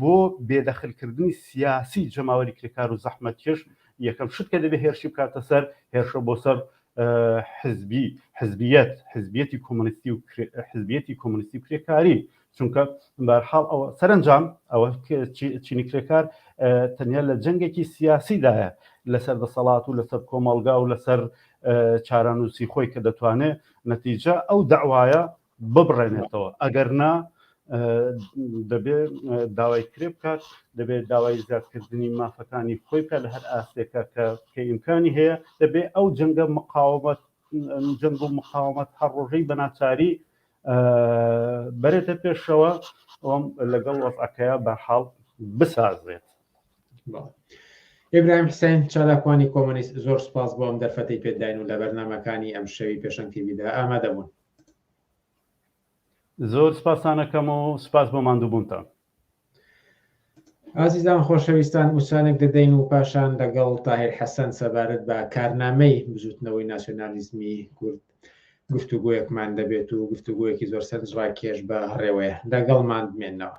بۆ بێدەخلکردنی سیاسی جەماوەری کرێکار و زەحمەتکێش یەکەم شت کە دەبێ هێرشی بکاتە سەر هێرشە بۆ سەر حزبی حزبیت حزبیەتی کۆمەنیستی و حزبیەتی کۆمەنیستی و کرێکاری چونکە بەرحاڵ ئەوە سەرنجام ئەوە چینی کرێکار تەنیا لە جەنگێکی سیاسیدایە لەسەر دەسەڵات و لەسەر کۆمەڵگا و لەسەر چارەنووسی خۆی کە دەتوانێت نەتیجە ئەو داوایە ببڕێنێتەوە ئەگەر نا دەبێ داوای کرێ بکات دەبێت داوای زیادکردنی مافەکانی خۆی بکە لە هەر ئاستێکە کە کە ئیمکانی هەیە دەبێ ئەو جەنگە مقاومەت جەنگ و مقاومەت هەر ڕۆژەی بە ناچاری بەرێتە پێشەوە ئەوم لەگەڵ وەفعەکەیە بە حاڵ بسازێت. ئبراهیم حسین چالاکوانی کۆمەنیست زۆر سپاس بۆم دەرفەتی پێداین و لە بەرنمەکانی ئەم شەوی پێشەنگتیبیدا ئامادەبوون زۆر سپاستان ئەکەم و سپاس بۆ ماندووبوونتان. ئازیزان خۆشەویستان وچانێک دەدەین و پاشان لەگەڵ تاهیر حەسەن سەبارەت بە کارنامەی بزووتنەوەی ناسیۆنالیزمی کورد گفتوگۆیەکمان دەبێت و گفتوگۆیەکی زۆر سەرنجڕاکێش بە هەڕێوەیە. لەگەڵمان بمێنەوە.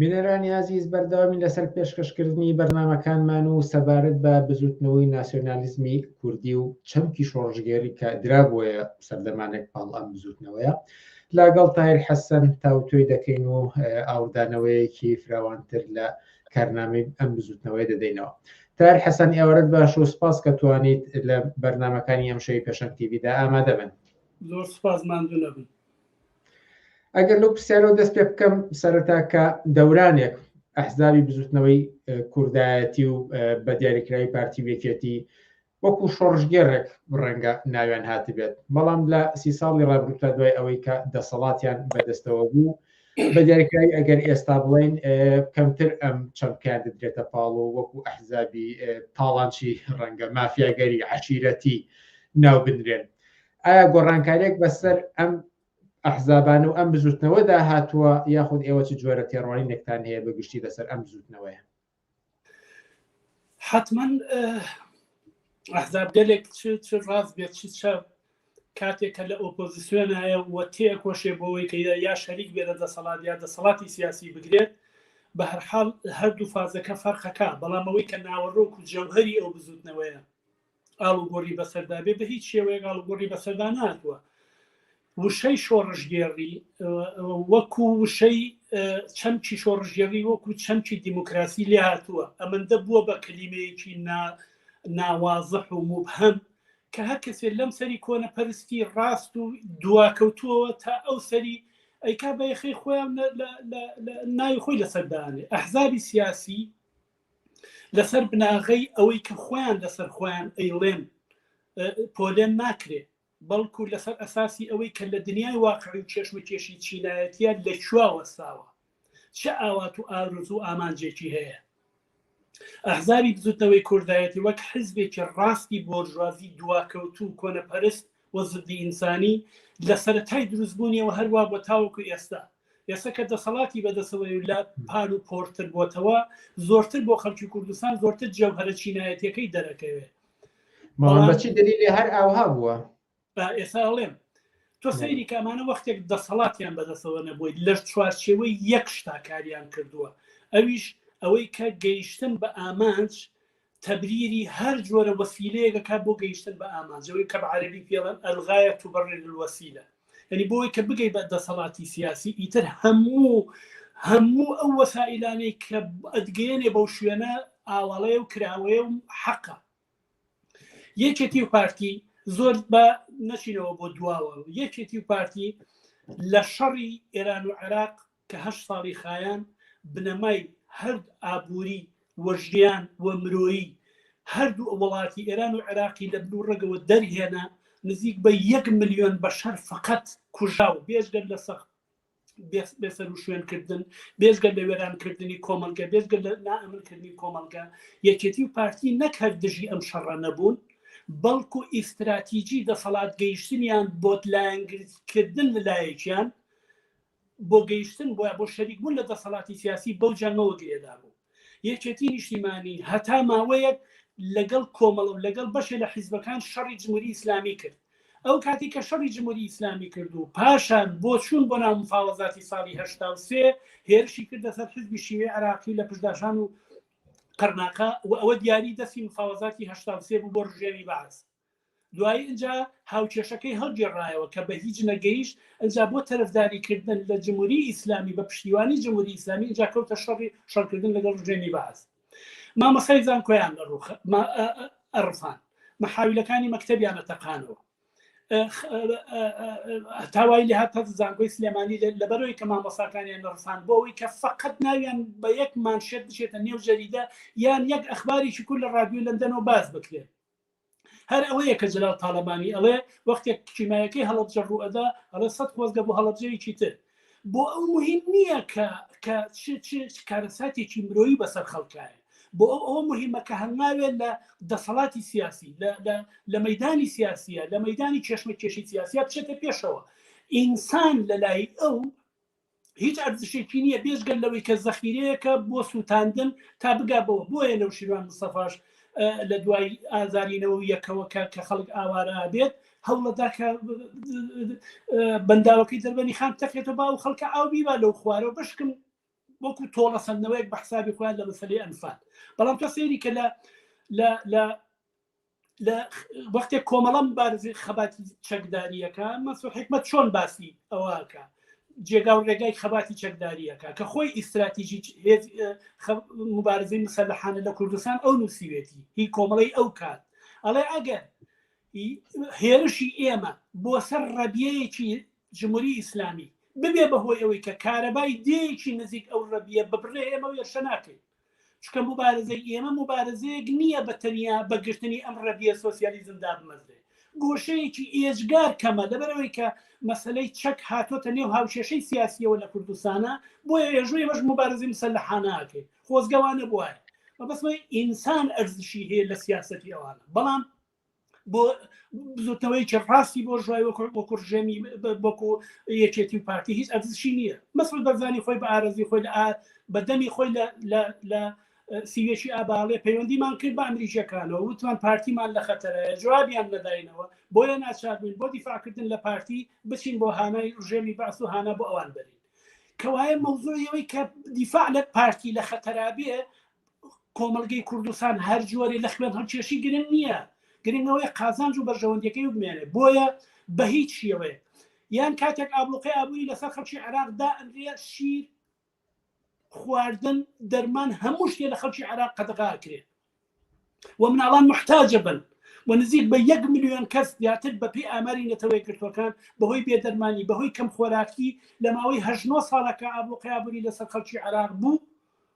بینەرانی ئازیز بەردەوامی لەسەر پێشکەشکردنی بەرنامەکانمان و سەبارەت بە بزوتنەوەی ناسیۆنالیزمی کوردی و چەمکی شۆڕشگێری کە درابووە سەردەمانێک پاڵ ئەم بزوتنەوەیە لاگەڵ تایر حەسەن تاوتۆی دەکەین و ئاوردانەوەیەکی فراوانتر لە کارنامەی ئەم بزوتنەوەی دەدەینەوە تار حەسەن ئێوەرت باش و سپاس کە توانیت لە بەرنمەکانی ئەم شەوی پێشەنگ تیویدا ئامادە بن زۆر سپاس ماندوو نەبن ئەگەر لەو پرسیارەوە دەست پێ بکەم سەرەتا کە دەورانێک ئەحزابی بزوتنەوەی کوردایەتی و بە دیاریکراوی پارتی وێکێتی وەکو شۆڕژگەرێک ڕەنگە ناویان هاتبێت بەڵام لە سی ساڵی ڕابروتا دوای ئەوەی کە دەسەڵاتیان بەدەستەوە بوو بە دیاریکراوی ئەگەر ئێستا بڵین کەمتر ئەم چەمکیان دەدرێتە پاڵ و وەکو ئەحزابی تاڵانچی ڕەنگە مافیاگەری عشیرەتی ناو بنرێن ئایا گۆڕانکارێک بەسەر ئەم ئەحزابان و ئەم بزوتنەوەدا هاتووە یاخود ئێوە چ جۆرە تێڕوانی نێکتان هەیە بە گشتی لەسەر ئەم بزوتنەوەیە حتمما ئەحزاب گەلێک چ ڕاز بێت چ چە کاتێکە لە ئۆپۆزیسیۆن هەیە و تێکۆشێ بۆەوەی کە یا شەریک بێ لە دەسەڵات یا دەسەڵاتی سیاسی بگرێت بە هەرحاڵ هەردوو فازەکە فەرقەکە بەڵام ئەوەی کە ناوەڕۆک و جەوهری ئەو بزوتنەوەیە ئاڵوگۆڕی بەسەردا بێ بە هیچ شێوەیەک ئاڵوگۆڕی بەسەردا ناتوە وشەی شۆڕژگێڕی وەکو وشەی چەمکی شۆڕژگێڕی وەکو چەمکی دیموکراسی لێ هاتووە ئەمەندە بووە بە کلیمەیەکی نا ناوازەح و مبهەم کە هەر کەسێ لەم سەری کۆنە پەرستی ڕاست و دواکەوتووەوە تا ئەو سەری ئەیکا بە یخی خۆیان ناوی خۆی لەسەردانێ ئەحزابی سیاسی لەسەر بناغەی ئەوەی کە خۆیان لەسەر خۆیان ئەیڵێن پۆلێن ناکرێ بەڵکو لەسەر ئەساسی ئەوەی کە لە دنیای واقعی و کێشمەکێشی چینایەتە لە چوا وەساوە چ ئاوات و ئاروز و ئامانجێکی هەیە ئەحزابی بزوتنەوەی کوردایەتی وەک حزبێکی ڕاستی بۆرژوازی دواکەوتو و کۆنەپەرست وە زدی ئینسانی لە سەرەتای دروستبوونیەوە هەروە بۆ تاوەکو ئێستا ئێستا کە دەسەڵاتی بەدەسەوەی و لە پار و پۆرتر بۆتەوە زۆرتر بۆ خەڵکی کوردستان زۆرتر جەوهرە چینایەتەکەی دەرەکەوێت بەچی دەلیلی هەر ئاوها بووە ئێستا هەڵێم تۆ سەیری کامانە وەختێک دەسەڵاتیان بەدەسەوە نەبوویت لە چوارچێوەی یەک شتاکاریان کردووە ئەویش ئەوەی کە گەیشتن بە ئامانج تەبریری هەر جۆرە وەسیلەیەک دەکات بۆ گەیشتن بە ئامانج، ئەوەی کە بە عەرەبی پێی ئەڵێن، الغایە تبرر الوسیلە، یانی بۆ ئەوەی کە بگەی بە دەسەڵاتی سیاسی ئیتر هەموو هەموو ئەو وەسائیلانەی کە ئەتگەیەنێ بەو شوێنە ئاواڵەیە و کراوەیە و حەقە. یەکێتی و پارتی زۆر بە نەچینەوە بۆ دواوە، یەکێتی و پارتی لە شەڕی ئێران و عێراق کە هەشت ساڵی خایاند بنەمای هەرد ئابووری و ژیان و مرۆیی هەردوو وڵاتی ئێران و عێراقی لە بنو ڕەگەوە دەرهێنا، نزیک بە یەک ملیۆن بەشەر فەقەت کوژاو، بێجگە لە سەخت بێسەروشوێن کردن، بێجگە لە وێران کردنی کۆمەڵگە، بێجگە لە نائەمن کردنی کۆمەڵگە، یەکێتی و پارتی نەک هەر دژی ئەم شەڕە نەبوون، بەڵکو ئیستراتیجی دەسەڵات گەیشتنیان بۆت لایەنگری کردن لە لایەکیان، بۆ گەیشتن بۆ بۆ شەریکبوون لە دەسەڵاتی سیاسی بەو جەنگەوە گرێدا بوو یەکێتی نیشتیمانی هەتا ماوەیەک لەگەڵ کۆمەڵە و لەگەڵ بەشێ لە حیزبەکان شەڕی جمهوری ئیسلامی کرد ئەو کاتی کە شەڕی جمهوری ئیسلامی کرد و پاشان بۆ چوون بۆ ناو مفاوەزاتی ساڵی هشتا و سێ هێرشی کردە سەر حزبی شیوێ عراقی لە پشداشان و قەرناقە و ئەوە دیاری دەستی مفاوەزاتی هشتا و سێ بوو بۆ ڕژێمی بەعس دوایی ئنجا هاوکێشەکەی هەڵگێڕایەوە کە بە هیچ نەگەیشت، ئنجا بۆ تەرەفداری کردن لە جموری ئیسلامی بە پشتیوانی جموری ئیسلامی ئنجا کەوتە شەڕی شەڕکردن لەگەڵ ڕژێمی بەعس. مامۆستای زانکۆیان ئەڕفان، مەحاویلەکانی مەکتەبیانە تەقانەوە. هەتا وای لێهات هەر زانکۆی سلێمانی لەبەرەوەی کە مامۆستاکانیان نەڕفان بۆ ئەوەی کە فەقەت ناویان بە یەک مانشێت بچێتە نێو جەریدە یان یەک ئەخباریی کورد لە ڕادیۆی لەندەنەوە باس بکرێت. هەر ئەوەیە کە جلال تاالبانی ئەڵێ وەختێک کیمایەکەی هەڵبجە ڕوئەدا ئەڵێ سە خۆزگە بۆ هەڵبجەیەکی تر بۆ ئەو مهم نییە کە کە کارەساتێکی مرۆیی بەسەر خەڵکایە بۆ ئەو ئەوە مهمە کە هەنگاوێ لە دەسەڵاتی سیاسی لە مەدانی سیاسیە لە مەدانی کێشمە کێشی سیاسیا بچێتە پێشەوە ئینسان لە لای ئەو هیچ ئەرزشێکی نییە بێژگەل لەوەی کە زەخیرەیەەکە بۆ سووتاندن تا بگا بەوە بۆیە نەو شیروان مسەفاش لە دوای ئازارینەوە یەکەوە کە کە خەڵک ئاوارە بێت هەوڵەدا کە بەنداوەکەی دەربەنی خان تەکێتەوە با و خەڵکە ئاو بیبا لەو خوارەوە بشکن وەکو تۆڵە سندنەوەیەک بە حسابی خۆیان لە مەسلەی ئەنفال بەڵام تۆ سێری کە لە لە لە وەختێک کۆمەڵە مبارزی خەباتی چەکداریەکە مەسو حکمت چۆن باسی ئەوەکە جێگا و ڕێگای خەباتی چەکداریەکە کە خۆی ئیستراتیژی مبارزی مسلحانە لە کوردستان ئەو نووسیوێتی هی کۆمەڵی ئەو کات ئەڵێ ئەگەر هێرشی ئێمە بۆ سەر ڕەبیەیەکی جمهوری ئیسلامی ببێ بەهۆی ئەوەی کە کارەبای دێکی نزیک ئەو ڕەبیە ببڕێ ئێمە وێرشە ناکەین چونکە موبارزەی ئێمە موبارزەیەک نییە بە تەنیا بە گرتنی ئەم ڕەبیە سۆسیالیزم دابمەزرێ گۆشەیەکی ئێجگار کەمە لەبەرەوەی کە مەسلەی چەک هاتۆتە نێو هاوکێشەی سیاسیەوە لە کوردستانە بۆیە ێژووی بەش مبارزی مسە لە حاناکەین خۆزگەوانە بواە مەبەسمە ئینسان ئەرزشی هەیە لە سیاستی ئەوانە بەڵام بۆ بزوتنەوەیکی ڕاستی بۆ ژای وەکوڕژێمی بۆکو یەکێتی و پارتی هیچ ئەزشی نییە مەسل بەرزانی خۆی بە ئارزی خۆی لە بەدەمی خۆی لە سیوێکی ئاباڵێ پەیوەندیمان کرد بە ئەمریکیەکانەوە وتمان پارتیمان لە خەتەرەیە جوابیان نەداینەوە بۆیە ناچاربووین بۆ دیفاعکردن لە پارتی بچین بۆ هانای ڕژێمی باس و هانا بۆ ئەوان بەرین کەوایە مەوزوعیەوەی کە دیفاع لە پارتی لە خەتەرابێ کۆمەلگەی کوردستان هەر جۆرێ لە خوێن هەڵکێشی گرنگ نییە گرنگەوەی قازانج و بەرژەوەندیەکەی بمێنێ بۆیە بە هیچ شێوەیە یان کاتێک ئابلوقی ئابووری لەسەر خەڵکی عێراق دا ئەنرێ شیر خواردن دەرمان هەموو شتێ لە خەڵکی عێراق قەدەغاکرێ و مناڵان محتاجە بن و نزیک بە یەک میلیۆن کەس زیاتر بەپی ئاماری نەتەوەی گرتوەکان بەهۆی بێدەرمانی بەهۆی کەم خۆراکی لە ماوەی هەژنۆ ساڵەکە ئابوو قیابوری لەسەر خەڵکی عراق بوو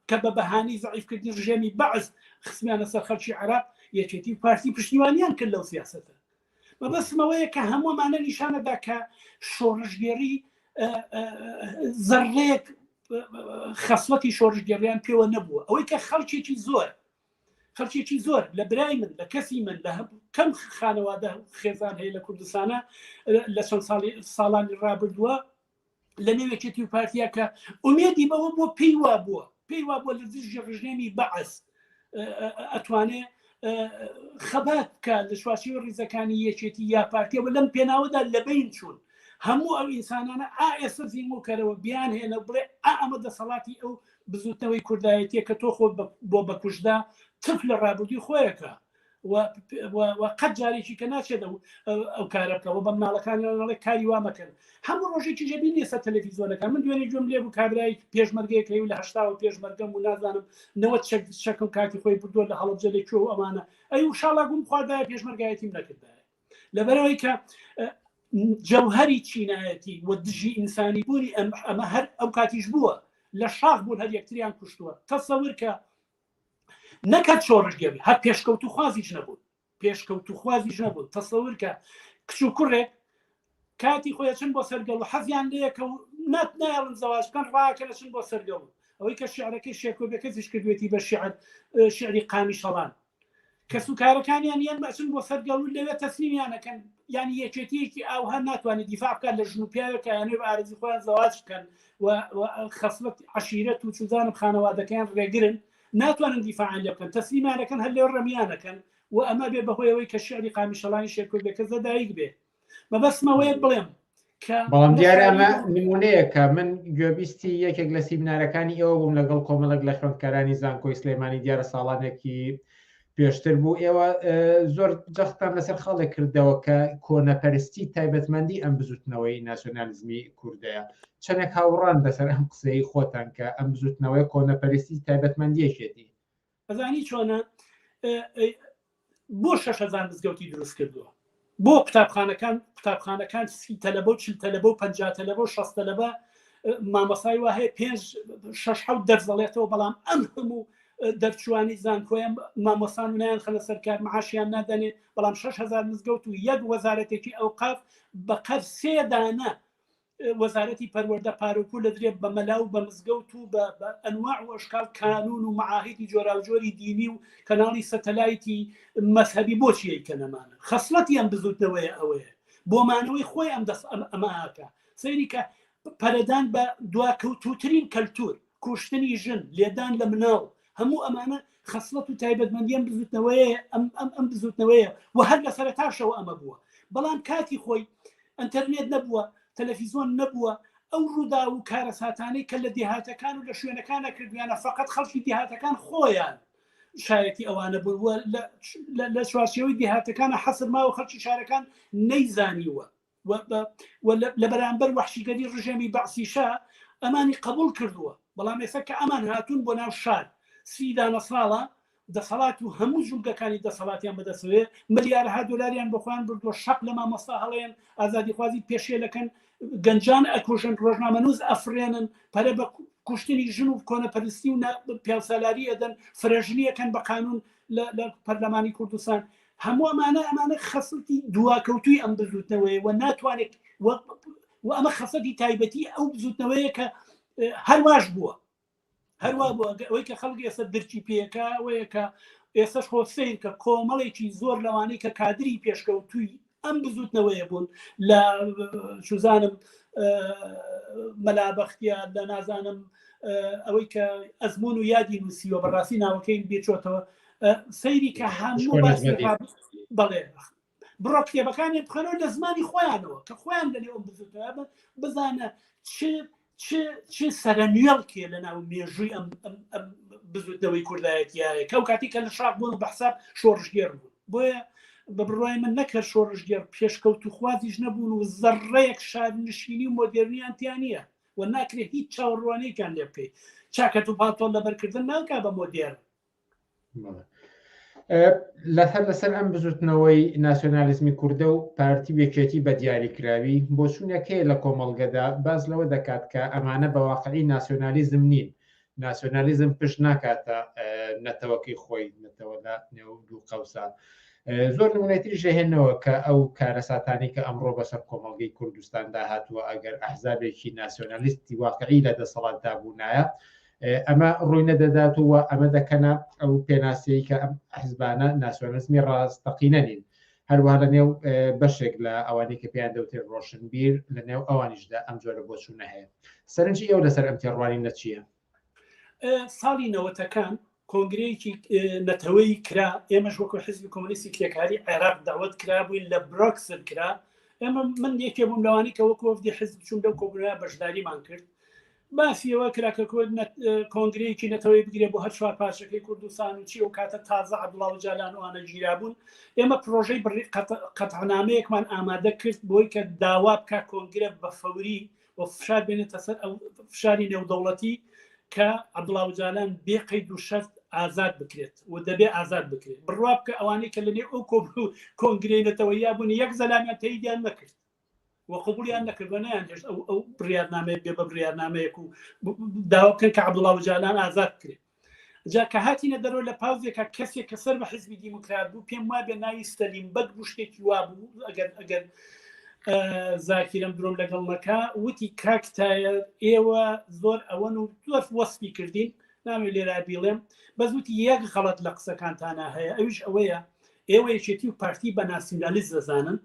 کە بە بەهانەی زەعیفکردنی ڕژێمی بەعس خستمیانە سەر خەڵکی عێراق، یەکێتی و پارتی پشتیوانیان کرد لەو سیاسەتە. مەبەستم ئەوەیە کە هەموو ئەمانە نیشان ئەدا کە شۆڕشگێڕی زەڕەیەک خەسڵەتی شۆڕشگێڕیان پێوە نەبووە ئەوەی کە خەڵکێکی زۆر خەڵکێکی زۆر لە برای من لە کەسی من لە کەم خانەوادە خێزان هەیە لە کوردستانە لە چەند ساڵی ساڵانی ڕابردووە لە نێو یەکێتی و پارتیەکە ئومێدی بەوە بۆ پێی وا بووە پێی وا بۆ لە دژی ڕژێمی بەعس ئەتوانێ خەبات بکە لە شواشی ڕیزەکانی یەکێتی یا پارتیەوە لەم پێناوەدا لەبین چوون هەموو ئەو ئینسانانە ئائێستا زیمۆکەرەوە بیان هێنە بڵێ ئەمە دەسەڵاتی ئەو بزوتنەوەی کوردایەتیە کە تۆ خۆ بۆ بەکوشدا تف لە ڕابردوی خۆیەکە و قەت جارێکی کە ناچێت ئەو کارە بکە و بە مناڵەکانڵێ کاری وا مەکەن هەموو ڕۆژێکی ژەبی نیسە تەلەفیزۆنەکە من دوێنێ گوێم لێ بوو کابرای پێشمەرگەیەکەی و لە هشتاوە پێشمەرگەم و نازانم نەوە چەک شەکە و کاتی خۆی بردووە لە هەڵبجە لە کوێ و ئەمانە ئەی و شاڵا گوم خواردایە پێشمەرگایەتیم نەکردایە لەبەرەوەی کە جەوهری چینایەتی و دژی ئینسانی بوونی ئەمە هەر ئەو کاتیش بووە لە شاخ بوون هەر یەکتریان کوشتووە تەسەور کە نەکە شۆڕشگێڕی هەر پێشکەوت و خوازیش نەبوون پێشکەوت و خوازیش نەبوون تەسەورکە کچ و کوڕێک کاتی خۆی چن بۆ سەرگەڵ و حەزیان لەیەکە و نات نایڵن زەواج بکەن ڕاکە لە چن بۆ سەرگەڵ ئەوەی کە شعرەکەی شێکۆبەکە زیش کردوێتی بە شعر شعری قامی شەڵان کەسوکارەکانیان یان ئەچن بۆ سەر گەڵ و لەوێ تەسلیمیان ئەکەن، یانی یەکێتییەکی ئاوها ناتوانێت دیفاع بکات لە ژن و پیاوێک کە ئەیانەوێت بە ئارەزووی خۆیان زەواج بکەن و خەسڵەت عەشیرەت و چوزانم خانەوادەکەیان ڕێگرن ناتوانن دیفاعیان لێ بکەن تەسلیمیان ئەکەن هەر لەوێ ڕمیان ئەکەن و ئەمە ئەبێت بەهۆی ئەوەی کە شیعری قامیشەڵانی شێرکۆ بێکەس لە دایک بێت. مەبەستم ئەوەیە بڵێم بەڵام دیارە ئەمە نمونەیەکە من گوێبیستی یەکێک لە سیمینارەکانی ئێوە بووم لەگەڵ کۆمەڵک لە خوێندکارانی زانکۆی سلێمانی دیارە ساڵانێکی پێشتر بوو ئێوە زۆر جەختان لەسەر خاڵێک کردەوە کە کۆنەپەرستی تایبەتمەندی ئەم بزوتنەوەی ناسیۆنالیزمی کوردەیە چەندێک هاوڕان بەسەر ئەم قسەی خۆتان کە ئەم بزوتنەوەی کۆنەپەرستی تایبەتمەندیەکێتی ئەزانی چۆنە بۆ شەش هزار مزگەوتی دروست کردووە بۆ قوتابخانەکان قوتابخانەکان سی تەلەبە و چل تەلەبە و پ تەلەبە و شەست تەلەبە مامەسای وە هەیە پێنج شش حوت دەرزەڵێتەوە بەڵام ئەم هەموو دەرچوانی زانکۆیان مامۆسان نیان خەنە سەرکار معاشیان نادەنێ بەڵام 6هزار مزگەوت و یەک وەزارەتێکی ئەو قاف بە قەر سێدانە وەزارەتی پەروەردە پارە و پول ئەدرێت بە مەلا و بە مزگەوت و بە ئەنواع و ئەشکال کانوون و مەعاهیدی جۆراوجۆری دینی و کەناڵی سەتەلایتی مەزهەبی بۆچی ئەیکەن ئەمانە خەسڵەتی ئەم بزووتنەوەیە ئەوەیە بۆ مانەوەی خۆی ئەم دەس ئەم ئەمە ئاکا سەیری کە پەرەدان بە دواکەوتووترین کەلتوور کوشتنی ژن، لێدان لە مناڵ، هەموو ئەمانە خەسڵەت و تایبەتمەندی ئەم بزوتنەوەیە، ئەم بزوتنەوەیە و هەر لە سەرەتاشەوە ئەمە بووە، بەڵام کاتی خۆی ئەنتەرنێت نەبووە، تەلەفیزۆن نەبووە، ئەو ڕووداو و کارەساتانەی کە لە دێهاتەکان و لە شوێنەکانا کردویانە فەقەت خەڵکی دێهاتەکان خۆیان شایەتی ئەوانە بوون و لە چوارچێوەی دێهاتەکانا حەسر ماوە خەڵکی شارەکان نەیزانیوە. و لە بەرامبەر وحشیگەری ڕژێمی بەعسیشە ئەمانی قبول کردووە بەڵام ئێستا کە ئەمان هاتوون بۆ ناو شار سی دانە ساڵە دەسەڵات و هەموو جوولگەکانی دەسەڵاتیان بەدەسەوێ ملیارها دلاریان بەخۆیان بردووە شەق لە مامۆستا هەڵێن ئازادیخوازی پێشێلەکەن گەنجان ئەکوژن ڕۆژنامەنووز ئەفرێنن پەرە بە کوشتنی ژن و کۆنەپەرستی و پیاسالاری ئەدەن فرەژنیەکەن بە قانون لە پەرلەمانی کوردستان هەموو ئەمانە ئەمانە خەسڵتی دواکەوتوی ئەم بزوتنەوەی و ناتوانێت و ئەمە خەسەتی تایبەتی ئەو بزوتنەوەیە کە هەرواش بووە هەروا بووە ئەوەی کە خەڵک ئێستا درچی پێەکە ئەوەیە کە ئێستش خۆ سیر کە کۆمەڵێکی زۆر لەوانەی کە کادری پێشکەوتووی ئەم بزوتنەوەیە بوون لە شوزانم مەلابختیا لە نازانم ئەوەی کە ئەزمون و یادی نووسیوە بەڕاستی ناوەکەی بێچۆتەوە سەیری کە هەموو بەڵێ بڕۆ کتێبەکانی بخەنەوە لە زمانی خۆیانەوە کە خۆیان لە لێوە بزوتە بزانە چ چ چ سەرەنوێڵکێ لە ناو مێژووی ئەم بزوتنەوەی کوردایەتیایە کەو کاتی کە لە شاق بوون و بەحساب شۆڕژگێر بوون بۆیە بە بڕای من نەکرد شۆڕژگێر پێشکەوت و خوازیش نەبوون و زەڕێک شار نشینی و مۆدررنیان تیانە و ناکرێت هیچ چاوەڕوانێکیان لێ بکەیت چاکەت و پاتۆڵ لەبەرکردن ناکە بە مۆدێر لەسەر لەسەر ئەم بزوتنەوەی ناسیۆنالیزمی کووردە و پارتی وێکێتی بە دیاریکراوی بۆ چوونەکەی لە کۆمەڵگەدا باز لەوە دەکات کە ئەمانە بە واقعی ناسیۆنالیزم نین ناسیۆنالیزم پشت ناکاتە نەتەوەکەی خۆی نەتەوەدا نێو دوو قەوسە زۆر نمونەتری ژەهێنەوە کە ئەو کارەساتانی کە ئەمڕۆ بەسەر کۆمەڵگەی کوردستاندا هاتووە ئەگەر ئەحزابێکی ناسیۆنالیستی واقعی لە دەسەڵاتدا بوونایە ئەمە ڕووی نەدەدات و ئەمە دەکەنە ئەو پێناسەی کە ئەم حزبانە ناسیۆنزمی ڕاستەقینە نین هەروە لە نێو بەشێک لە ئەوانی کە پێیان دەوتێت ڕۆشنبیر لە نێو ئەوانیشدا ئەم جۆرە بۆچوونە هەیە سەرنجی ئەو لەسەر ئەم تێڕوانی نەچیە ساڵی نەوەتەکان کۆنگرەیەکی نەتەوەی کرا ئێمەش وەکو حزبی کۆمونیستی کرێکاری عێراق داوت کرا بووین لە برۆکسل کرا ئێمە من یەکێ بووم لەوانی کە وەکوفدی حزب چون لەو کۆبرا بەشداریمان کرد باسی ئەوە کرا کە کورد نە کۆنگرەیەکی نەتەوەیی بگرێت بۆ هەر چوار پارچەکەی کوردستان و چی ئەو کاتە تازە عەبدوڵا ئۆجالان و ئەوانە گیرابوون. ئێمە پرۆژەی بڕی قەت قەتعنامەیەکمان ئامادە کرد بۆی کە داوا بکا کۆنگرە بە فەوری و فشار بێنێتە سەر ئەو فشاری نێودەوڵەتی کە عەبدوڵا ئۆجالان بێ قەید و شەرت ئازاد بکرێت و دەبێ ئازاد بکرێت. بڕوا بکە ئەوانەی کە لەنێو ئەو کۆب و کۆنگرەی نەتەوەییا بوون یەک زەلامیان تەییدیان نەکرد. و قبوڵیان نەکرد و نەیانهێشت ئەو ئەو بڕیارنامەیە بێ بە بڕیارنامەیەک و داوا بکەن کە عەبدوڵڵا ئۆجالان ئازاد بکرێت جا کە هاتینە دەرەوە لە پاوزێکە کەسێک کە سەر بە حزبی دیموکرات بوو پێم وابێ ناوی سەلیم بەگ بوو شتێکی وا بوو ئەگەر ئەگەر زاکیرم درۆم لەگەڵ نەکە وتی کاکتایە ئێوە زۆر ئەوەن و زۆر وەسپی کردین ناوێ لێرا بیڵێم بەزوتی یەک غەڵت لە قسەکانتانە هەیە ئەوش ئەوەیە ئێوە یەکێتی و پارتی بە ناسیونالیست دەزانن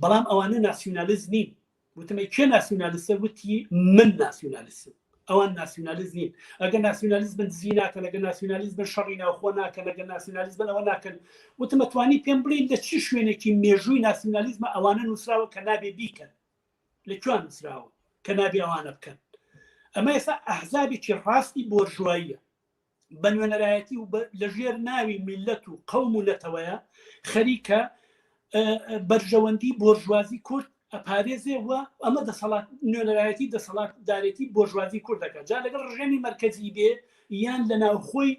بەڵام ئەوانە ناسیونالیست نین وتم ئەی کێ ناسیونالیستە وتی من ناسیونالیستم ئەوان ناسیونالیست نین ئەگە ناسیونالیست بن دزی ناکەن ئەگە ناسیونالیست بن شەڕی ناوخۆ ناکەن ئەگە ناسیونالیست بن ئەوە ناکەن وتمەتوانی پێم بڵین لە چی شوێنێکی مێژووی ناسیونالیزمە ئەوانە نووسراوە کە نابێ بیکەن لە کوان نووسراوە کە نابێ ئەوانە بکەن ئەمە ئێستا ئەحزابێکی ڕاستی بۆرژواییە بە نوێنەرایەتی و لە ژێر ناوی میلەت و قەوم و نەتەوەیە خەریکە بەرژەوەندی بۆرژوازی کورد ئەپارێزێ و ئەمە دەسەڵات نوێنەرایەتی دەسەڵات دارێتی بۆرژوازی کوردەکە جا لەگەڵ ڕژێمی مرکزی بێ یان لە ناوخۆی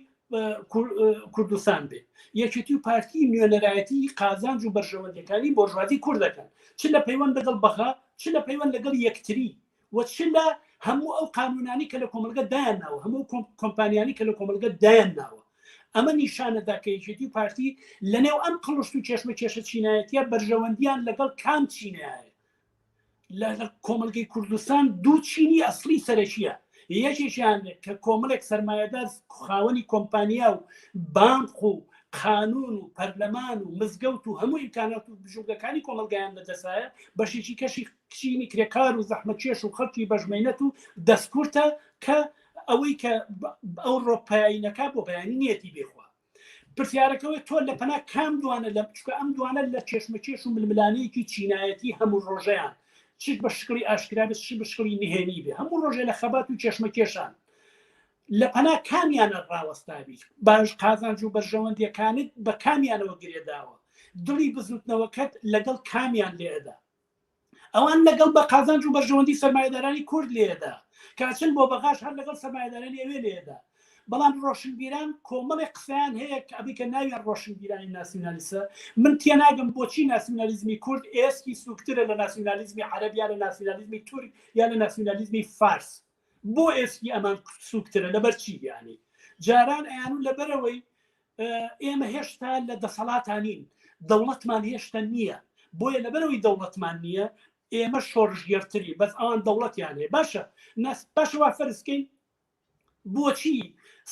کوردستان بێ یەکێتی و پارتی نوێنەرایەتی قازانج و بەرژەوەندەکانی بۆرژوازی کوردەکەن چ لە پەیوەند لەگەڵ بەغا چ لە پەیوەند لەگەڵ یەکتری و چ لە هەموو ئەو قانوونانەی کە لە کۆمەڵگە دایان ناوە هەموو کۆمپانیانی کە لە کۆمەڵگە دایان ناوە ئەمە نیشانەدا کە یەکێتی و پارتی لەنێو ئەم قڵشت و کێشمە کێشە چینایەتە بەرژەوەندیان لەگەڵ کام چینایە لە کۆمەلگەی کوردستان دوو چینی ئەسلی سەرەکیە یەکێکیان کە کۆمەڵێک سرمایهدار خاوەنی کۆمپانیا و بانق و قانون و پەرلەمان و مزگەوت و هەموو ئیمکانات و بژوگەکانی کۆمەلگایان لەدەسایە بەشێکی کەشی کچینی کرێکار و زەحمەکێش و خەڵکی بەژمەینەت و دەستکورتە کە ئەوەی کە ئەو ڕۆپایینەکە بۆ بەیانی نیەتی بێخوا پرسیارەکەەوەی تۆ لە پەنا کام دوانە لە بچکە ئەم دوانە لە چێشمەکێش و ململانەیەکی چینایەتی هەموو ڕۆژەیان چ بە شکڵی ئاشکرا بە چ بە شکڵی نهێنی بێ هەموو ڕۆژێ لە خەبات و چێشمەکێشان لە پەنا کامیانە ڕاوەستابی باش قازانج و بەرژەوەندیەکانت بە کامیانەوە گرێداوە دڵی بزوتنەوەکەت لەگەڵ کامیان لێدا ئەوان لەگەڵ بە قازانج و بەرژەوەندی سەرمایەدارانی کورد لێیەدا کاچن بۆ بەغاش هەر لەگەڵ سەرمایەدارانی ئەوێ لێیەدا بەڵام ڕۆشنبیران کۆمەڵێ قسەیان هەیە کە ئەبی کە ناویان ڕۆشنبیرانی ناسیونالیسە من تێناگەم بۆچی ناسیونالیزمی کورد ئێسکی سوکترە لە ناسیونالیزمی عەرەب یا لە ناسیونالیزمی تورک یا لە ناسیونالیزمی فارس بۆ ئێسکی ئەمان سوکترە لەبەر چی یانی جاران ئەیانون لەبەرەوەی ئێمە هێشتا لە دەسەڵاتانین دەوڵەتمان هێشتا نییە بۆیە لەبەرەوەی دەوڵەتمان نییە ئێمە شۆڕژگەرتری بەس ئەوان دەوڵەتیان هەیە باشە ناس باشەوە فەرزکەین بۆچی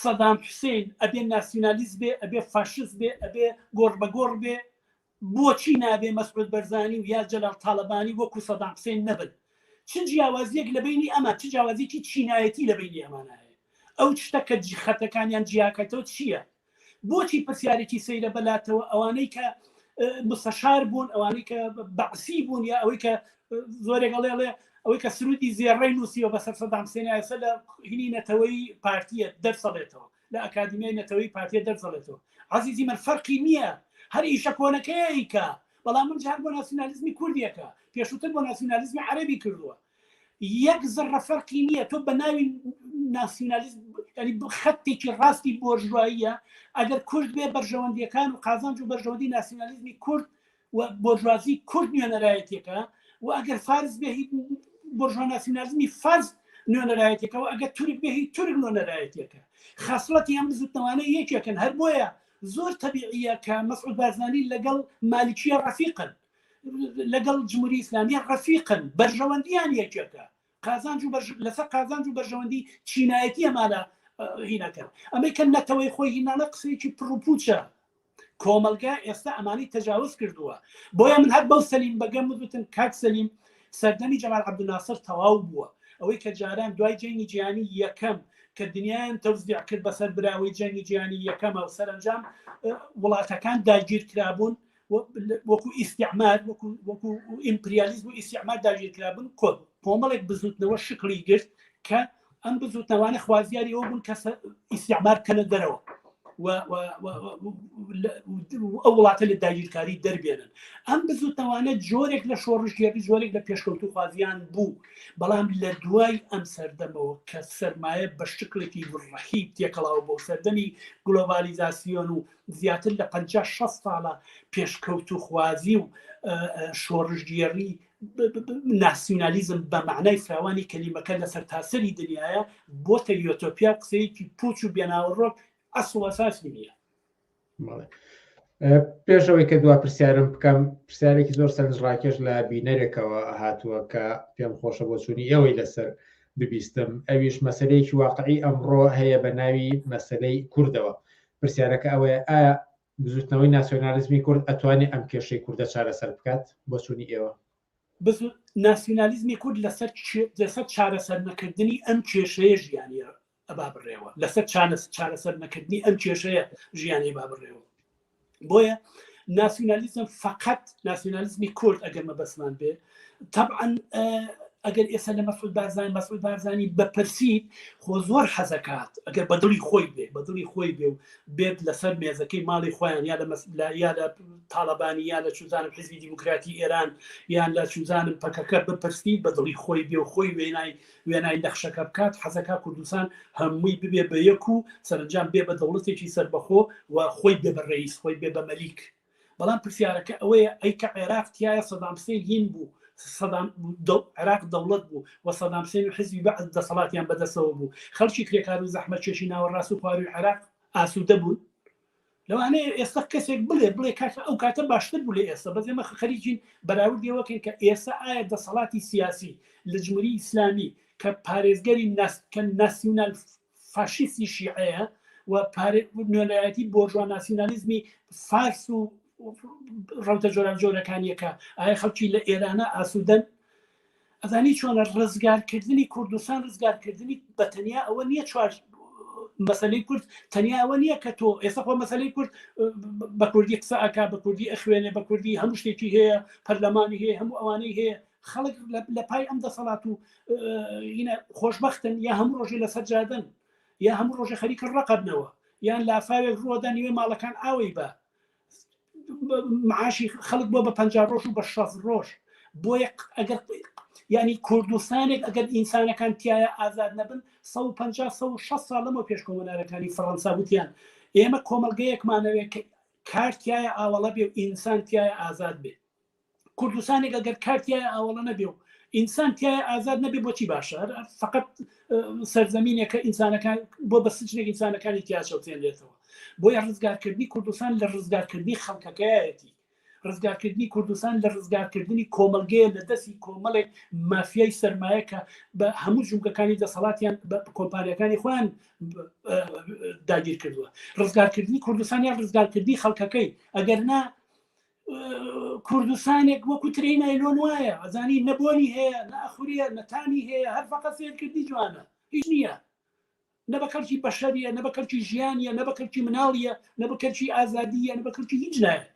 سەدام حوسین ئەبێ ناسیونالیست بێ ئەبێ فاشست بێ ئەبێ گۆڕ بە گۆڕ بێ بۆچی نابێ مەسعود بەرزانی و یا جەلال تاڵەبانی وەکو سەدام حسێن نەبن؟ چ جیاوازیەک لە بەینی ئەمان چ جیاوازیەکی چینایەتی لە بەینی ئەمانا هەیە؟ ئەو شتە کە خەتەکانیان جیاکەتەوە چیە؟ بۆچی پرسیارێکی سەیرە بە لاتەوە ئەوانەی کە مستەشار بوون ئەوانەی کە بەعسی بوون یا ئەوەی کە زۆرێک ئەڵێ ئەڵێ ئەوەی کە سرودی زێڕەی نووسیەوە بەسەر سەدام حسێنایەسە لە هینی نەتەوەی پارتیە دەرسەڵێتەوە لە ئەکادیمیای نەتەوەیی پارتیە دەرجەڵێتەوە عەزیزی من فەرقی نییە هەر ئیشە کۆنەکەی ئەیکا بەڵام من جار بۆ ناسیونالیزمی کوردیەکە پێشووتر بۆ ناسیونالیزمی عەرەبی کردووە یەک زڕە فەرقی نییە تۆ بە ناوی ناسیونالیزم ینی خەتێکی ڕاستی بۆرژواییە ئەگەر کورد بێ بەرژەوەندیەکان و قازانج و بەرژەوەندی ناسیونالیزمی کورد و بۆرژوازی کورد نوێنەرایەتێکە و ئەگەر فارس بێ بۆرژوا ناسیونالیزمی فارس نوێنەرایەتێکەوە ئەگە تورک بێ هی تورک نوێنەرایەتێکە خەسڵەتی ئەم بزوتنەوانە یەکێکن هەر بۆیە زۆر تەبیعە کە مەسعود بارزانانی لەگەڵ مالیکیە ڕەفیقن لەگەڵ جمهوری ئیسلامیە ڕەفیقن بەرژەوەندیان یەکێکە قازانج و لەسەر قازانج و بەرژەوەندی چینایەتی ئەمانە هینەکە ئەمەی کە نەتەوەی خۆی هینانە قسەیەکی پڕوپوچە کۆمەلگا ئێستا ئەمانی تەجاوز کردووە بۆیە من هەر بەو سەلیم بەگەم وتم کاک سەلیم سەردەمی جەمال عبدناسر تەواو بووە ئەوەی کە جاران دوای جەنگی جیانی یەکەم کە دنیایان تەوزیع کرد بەسەر براوەی جەنگی جیانی یەکەمە و سەرنجام وڵاتەکان داگیر کرابوون وەکو ئیسیعمار وەکو ئیمپریالیزم و ئیسیعمار داگیر کرابوون کۆت کۆمەڵێک بزوتنەوە شکڵی گرت کە ئەم بزوتنەوانە خوازیاری ئەو بوون کە ئیسیعمار بکەنە دەرەوە ئەو وڵاتە لە داگیرکاری دەربێنن ئەم بزوتنەوانە جۆرێک لە شۆڕشگێری جۆرێک لە پێشکەوت و خوازیان بوو بەڵام لە دوای ئەم سەردەمەوە کە سرمایە بە شکلێکی ڕحی تێکەڵاو بۆ سەردەمی گلۆبالیزاسیۆن و زیاتر لە 5 ساڵە پێشکەوت و خوازی و شۆڕشگێری ناسیونالیزم بە معنای فراوانی کەلیمەکە لە سەرتاسەری دنیاە بۆتە یۆتۆپیا قسەیەکی پوچ و بێناوەڕۆک ئەسڵەساسی نییە پێشەوەی کە دوا پرسیارم بکەم پرسیارێکی زۆر سەرنجڕاکێش لە بینەرێکەوە هاتووە کە پێم خۆشە بۆ چوونی ئەوەی لەسەر ببیستم ئەویش مەسلەیەکی واقعی ئەمڕۆ هەیە بە ناوی مەسلەی کوردەوە پرسیارەکە ئەوەیە ئایا بزوتنەوەی ناسیۆنالیزمی کورد ئەتوانێ ئەم کێشەی کوردە چارەسەر بکات بۆ چوونی ئێوە؟ ناسیۆنالیزمی کورد لەسەر لەسەر چارەسەر نەکردنی ئەم کێشەیە ژیانی ئەبا بڕێوە لەسەر چارەسەر نەکردنی ئەم کێشەیە ژیانی با بڕێوە بۆیە ناسیۆنالیزم فقط ناسیۆنالیزمی کورد ئەگەر مەبەسمان بێ تەبعەن ئەگەر ئێستا لە مەسود بارزانانی مەسود بارزانانی بەپرسیت خۆ زۆر حەزەکات ئەگەر بەدڵی خۆی بێ بەدڵی خۆی بێ و بێت لەسەر مێزەکەی ماڵی خۆیان یا لە مەسلا یا لە تاالبانی یا لە چوزانم حزبی دیموکراتی ئێران یان لە چوزانم پەکەکە بپرسیت بەدڵی خۆی بێ و خۆی وێنای وێنای نەخشەکە بکات حەزەکە کوردستان هەمووی ببێ بە یەک و سەرنجام بێ بە دەوڵەتێکی سربەخۆ و خۆی بێ بە ڕێیس خۆی بێ بە مەلیک بەڵام پرسیارەکە ئەوەیە ئەی کە عێراق تیایە سەدام حسێن هین بوو سەدام عێراق دەوڵەت بوو و سەدام حسێن و حزبی بەعس دەسەڵاتیان بەدەستەوە بوو خەڵکی کرێکارو زەحمەتکێشی ناوەڕاست و خوارووی عێراق ئاسودە بوون لەوانەیە ئێستا کەسێک بڵێ بڵێ کاکە ئەو کاتە باشتر بوو لە ئێستا بەس ئێمە خەریکین بەراوردی ئەوە کەین کە ئێستا ئایا دەسەڵاتی سیاسی لە جمهوری ئیسلامی کە پارێزگەری ناس کە ناسیونال فاشیستی شیعەیە و نوێنەرایەتی بۆرژوا ناسیونالیزمی فارس و ڕەوتە جۆراوجۆرەکانیەکە ئایا خەڵکی لە ئێرانە ئاسوودەن ئەزانی چۆنە ڕزگارکردنی کوردستان ڕزگارکردنی بە تەنیا ئەوە نییە چوار مەسلەی کورد تەنیا ئەوە نییە کە تۆ ئێستا خۆ مەسلەی کورد بە کوردی قسە ئەک بە کوردی ئەخوێنێ بە کوردی هەموو شتێکی هەیە پەرلەمانی هەیە هەموو ئەوانەی هەیە خەڵک لە پای ئەم دەسەڵات و خۆشببختن یا هەموو ڕۆژی لەسەر جادن یا هەموو ڕۆژە خەریکە ڕقبنەوە یان لافاوێک ڕۆدا نیوێ ماڵەکان ئاوەی بە معاشی خەڵک بۆ بە پ ڕۆژ و بە شەف ڕۆژ بۆیە ئەگەر ینی کوردستانێک ئەگەر ئینسانەکان تایە ئازاد نەبن 1500 ساڵ لەمە پێش کۆمەنارەکانی فەڕەنسا وتیان ئێمە کۆمەلگەیەکمانەوێت کارتایە ئاوەڵە بێ ئینسان تایە ئازاد بێت کوردستانێک ئەگەر کارتیای ئاوەڵە نەبێ و ئینسان تای ئازاد نەبێ بۆچی باشە فقط سەرزەمینێکە ئینسانەکان بۆ بە سچێک ئینسانەکانی تیاچەوتێنرێتەوە بۆی ڕزگارکردنی کوردستان لە ڕزگارکردنی خەڵکەکەیەتی ڕزگارکردنی کوردستان لە ڕزگارکردنی کۆمەلگەیە لە دەستی کۆمەڵێک مافیای سرمایە کە بە هەموو جومگەکانی دەسەڵاتیان کۆمپانیەکانی خۆیان داگیر کردووە ڕزگارکردنی کوردستانیان ڕزگارکردنی خەڵکەکەی ئەگەر نا کوردستانێک وەکو ترین ئەیلۆن وایە ئەزانی نەبۆنی هەیە نەخوریە نەتانی هەیە هەر فقە فێرکردی جوانە هیچ نییە نە بە کەلکی بەشەریە نە بە کەلکی ژیانە نە بە کەلکی مناڵیە نە بە کەلکی ئازادیە نە بە کەلکی هیچ لایە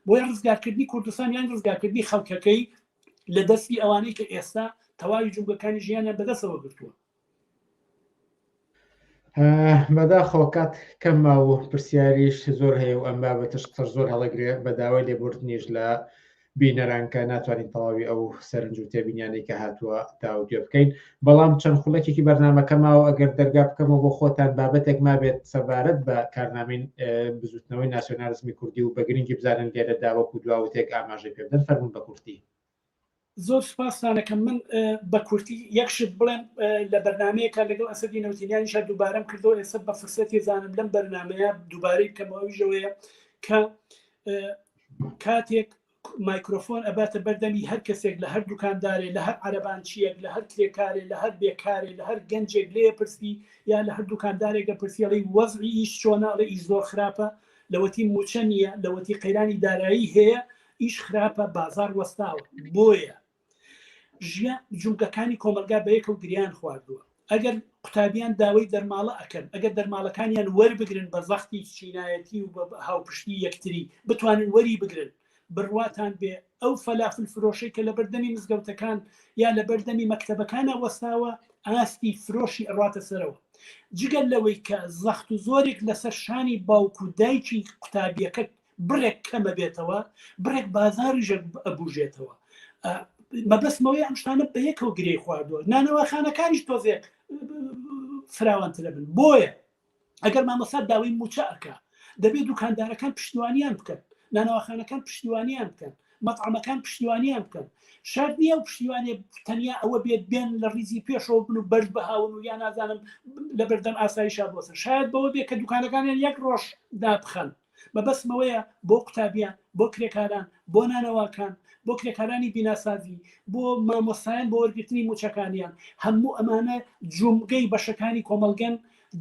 بۆیە ڕزگارکردنی کوردستان یان ڕزگارکردنی خەڵکەکەی لە دەستی ئەوانەی کە ئێستا تەواوی جوگەکانی ژیانیان بەدەسەوە گرتووە بەداخەوە کات کەم ما و پرسیاریش زۆر هەیە و ئەم بابەتش قسە زۆر هەڵەگرێ بە داوای لێبوردنیش لە بینەرانکە ناتوانین تەواوی ئەو سەرنج و تێبینیانەی کە هاتووە تاوتێ بکەین بەڵام چەند خولەکێکی بەرنمەکە ماوە ئەگەر دەرگا بکەمەوە بۆ خۆتان بابەتێک مابێت سەبارەت بە کارنامین بزوتنەوەی ناسیۆنارزمی کوردی و بەگرنگی بزانن لێرە داوەکو دواوتێک ئاماژەی پێبدەن فەرمون بە کورتی زۆر سوپاستان ئەکەم من بە کورتی یەک شت بڵێم لە بەرنمەیەکە لەگەڵ ئەسەدی نەوتینیانیشا دووبارەم کردەوە ئێستا بە فرسەتی زانم لەم بەرنمەیە دووبارەی بکەمەوەژەوەیە کە کاتێک مایکرۆفۆن ئەباتە بەردەمی هەر کەسێک لە هەر دوکاندارێ لە هەر عەربانچیەک لە هەر کرێکارێ لە هەر بێکارێ لە هەر گەنجێک لێ پرسی یا لە هەر دوکاندارێکە پرسیڵی وەزعی ئیش چۆنە ئەڵێ ئیش زۆر خراپە لەوەتی موچە نییە لەوەتی قەیرانی دارایی هەیە ئیش خراپە بازاڕ وەستاوە بۆیە ژیا جومگەکانی کۆمەلگا بە یەکەو گریان خواردووە ئەگەر قوتابیان داوەی دەرماڵە ئەکەن ئەگەر دەرماڵەکانیان وەربگرن بە زەختی چینایەتی و بە هاوپشتی یەکتری بتوانن وەری بگرن بڕواتان بێ ئەو فەلافل فرۆشەی کە لە بەردەمی مزگەوتەکان یا لە بەردەمی مەکتەبەکانە وەستاوە ئاستی فرۆشی ئەڕاتە سەرەوە جگەل لەوەی کە زەخت و زۆرێک لەسەر شانی باوک و دایکی قوتابیەکە بڕێک کەمە بێتەوە بڕێک بازاریش ئەبوژێتەوە مەبەستمەوەی ئەم شتانە بە یەکەوە گرێ خواردووە نانەوەخانەکانیش تۆزێک فراوانترە بن بۆیە ئەگەر مامەسا داوای موچە ئەکا دەبێت دوکاندارەکان پشتیوانیان بکەن نانەوەخانەکان پشتیوانیان بکەن مەتعامەکان پشتیوانیان بکەن شار نییە و پشتیوانێ تەنیا ئەوە بێت بێن لە ریزی پێشەوە بن و بەرز بەهاون و یا نازانم لە بەردەم ئاسایشا بۆسە شاید بەوە بێ کە دوکانەکانیان یەک ڕۆژ دابخەن مەبەستم ئەوەیە بۆ قوتابیان، بۆ کرێکاران، بۆ نانەواکان، بۆ کرێکارانی بیناسازی، بۆ مامۆستایان بۆ وەرگرتنی مووچەکانیان، هەموو ئەمانە جومگەی بەشەکانی کۆمەڵگەن،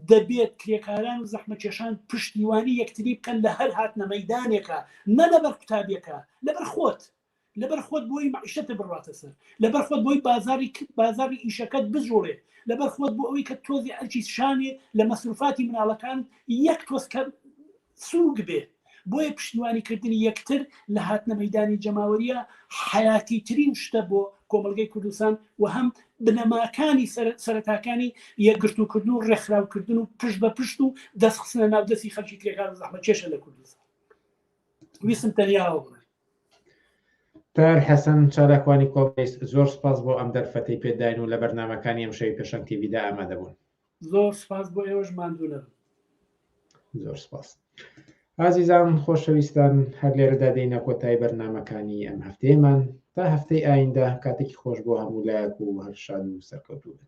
دەبێت کرێکاران و زەحمەتکێشان پشتیوانی یەکتری بکەن لە هەر هاتنە مەیدانێکا، نە لەبەر قوتابیەکە، لەبەر خۆت. لەبەر خۆت بۆی مەعیشەتت بڕاتە سەر، لەبەر خۆت بۆی بازاڕی بازاڕی ئیشەکەت بجوڵێ، لەبەر خۆت بۆ ئەوەی کە تۆزێ ئەرکیت شانێ لە مەسروفاتی مناڵەکانت یەک تۆز کەم سووک بێ. بۆیە پشتیوانی کردنی یەکتر لە هاتنە مەیدانی جەماوەرییە حەیاتیترین شتە بۆ کۆمەڵگەی کوردستان و هەم بنەماکانی سەرەتاکانی یەکگرتووکردن و ڕێکخراوکردن و پشت بە پشت و دەستخستنە ناو دەستی خەلکی کرێکار و زەحمەتکێشە لە کوردستان ویستم تەنیاوە بڵێم. تاهیر حەسەن، چالاکوانی کۆمەیس، زۆر سوپاس بۆ ئەم دەرفەتەی پێ داین و لە بەرنامەکانی ئەمشەوی پێشەنگ تیڤیدا ئامادە بوون. زۆر سوپاس بۆ ئێوەش ماندوو نەبن. زۆر سوپاس. ئازیزان خۆشەویستان هەر لێرەدا دێینە کۆتای بەرنمەکانی ئەم هەفتەیەمان تا هەفتەی ئایندە کاتێکی خۆش بۆ هەموو لایەک و هەر شاد و سەرکەوتوو بن.